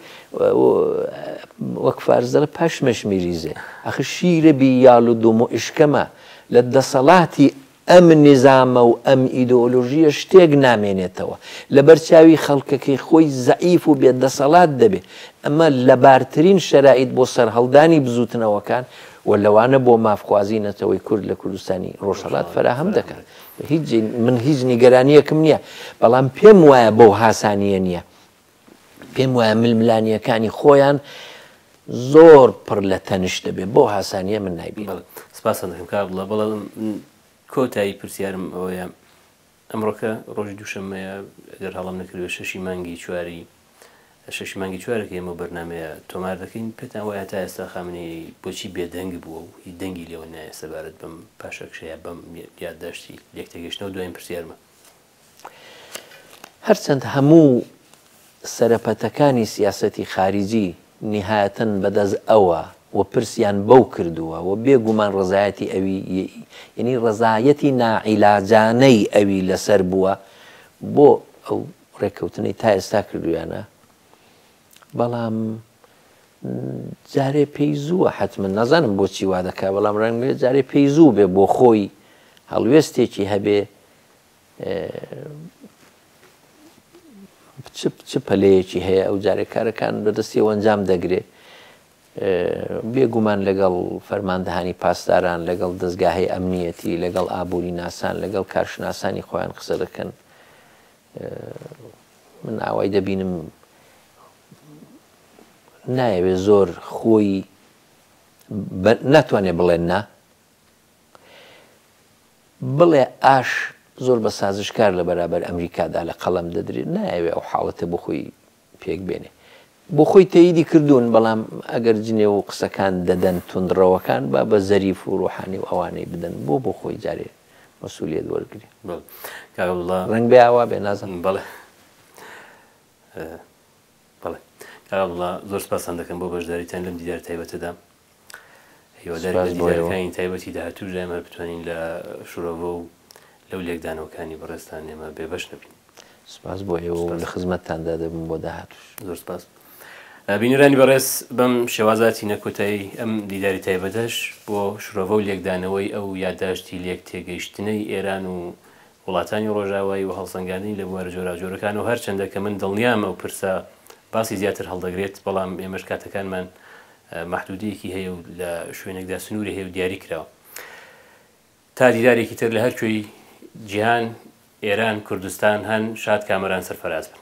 وەک فارس دەڵێ پشمش میریزێ ئەخر شیرە بی یال و دوم و ئشکەمە لە دەسەڵاتی ئەم نیزامە و ئەم ئیدۆلۆژیە شتێک نامێنێتەوە لە بەرچاوی خەڵکەکەی خۆی زەعیف و بێ دەسەڵات دەبێ ئەمە لەبارترین شەرائیت بۆ سەرهەڵدانی بزوتنەوەکان و لەوانە بۆ مافخوازی نەتەوەی کورد لە کوردستانی ڕۆژهەڵات فەراهەم دەکات هیچ من هیچ نیگەرانیەکم نییە بەڵام پێم وایە بەو هاسانیە نییە پێم وایە ململانیەکانی خۆیان زۆر پڕ لە تەنش دەبێت بۆ هاسانیە من نایبی سپاسەکە بڵێ بەڵام کۆتایی پرسیارم ئەوەیە ئەمڕۆکە ڕۆژی دووشەممەیە گەر هەڵەم نەکردبێت شەشی مانگی چواری شەشی مانگی چوارە کە ئێمە ئەو بەرنامەیە تۆمار دەکەین پێتان وایە تا ئێستا خامنەیی بۆچی بێدەنگ بووە و هیچ دەنگی لێوە نایە سەبارەت بەم پاشەکشە یا بەم یادداشتی لێکتێگەیشتنەوە دوایین پرسیارمە. هەرچەند هەموو سەرەپەتەکانی سیاسەتی خاریجی نیهایەتەن بەدەست ئەوە و پرسیان بەو کردووە و بێ گومان ڕەزایەتی ئەوی یەنی ڕەزایەتی ناعیلاجانەی ئەوی لەسەر بووە بۆ ئەو ڕێککەوتنەی تا ئێستا کردوویانە بەڵام جارێ پێی زووە حتممە نازانم بۆچی وا دەکا بەڵام ڕەنگێ جارێ پێی زوو بێ بۆ خۆی هەڵوێستێکی هەبێ چ پەلەیەکی هەیە ئەو جارێک کارەکان بەدەستی ئەنجام دەگرێت بێگومان لەگەڵ فەرماندەهانی پاسداران لەگەڵ دەستگاهی ئەمنیەتی لەگەڵ ئابووری ناسان لەگەڵ کارشناسانی خۆیان قسە دەکەن من ئاوای دەبینم نایەوێ زۆر خۆی ناتوانێت بڵێن نا بڵێ ئاش زۆر بە سازشکار لە بەرابەر ئەمریکادا لە قەڵەم دەدرێت، نایەوێ ئەو حاڵەتە بۆ خۆی پێک بێنێ. بۆ خۆی تەییدی کردوون، بەڵام ئەگەر جنێو و قسەکان دەدەن توندڕەوەکان با بە زەریف و ڕوحانی و ئەوانەی بدەن، بۆ بۆ خۆی جارێ مەسوولییەت وەرگرێ؟ بەڵێ کاک عەبدوڵڵا. ڕەنگبێ ئاوا بێ نازانم. بەڵێ. بەڵێ. کاک عەبدوڵڵا زۆر سپاستان دەکەم بۆ بەشداریتان لەم دیدارە تایبەتەدا. هیوادارین لە دیدارەکانی تایبەتی داهاتووش دایم هەر بتوانین لە شرۆڤە و لەو لێکدانەوەکانی بەڕێزتان ئێمە بێبەش نەبین. سپاس بۆ ئێوە و لە خزمەتتاندا دەبم بۆ داهاتووش. زۆر سپاس. بینەرانی بەڕێز بەم شێوازە هاتینە کۆتایی ئەم دیداری تایبەتەش بۆ شرۆڤە و لێکدانەوەی ئەو یادداشتی لێک تێگەیشتنەی ئێران و وڵاتانی ڕۆژاوایی و هەڵسەنگاندنی لە بوارە جۆراوجۆرەکان و هەرچەندە کە من دڵنیام ئەو پرسە باسی زیاتر هەڵدەگرێت بەڵام ئێمەش کاتەکانمان مەحدودیەکی هەیە و لە شوێنێکدا سنووری هەیە و دیاری کراوە تا دیدارێکی تر لە هەر کوێی جیهان ئێران کوردستان هەن شاد کامەران سەرفراز بن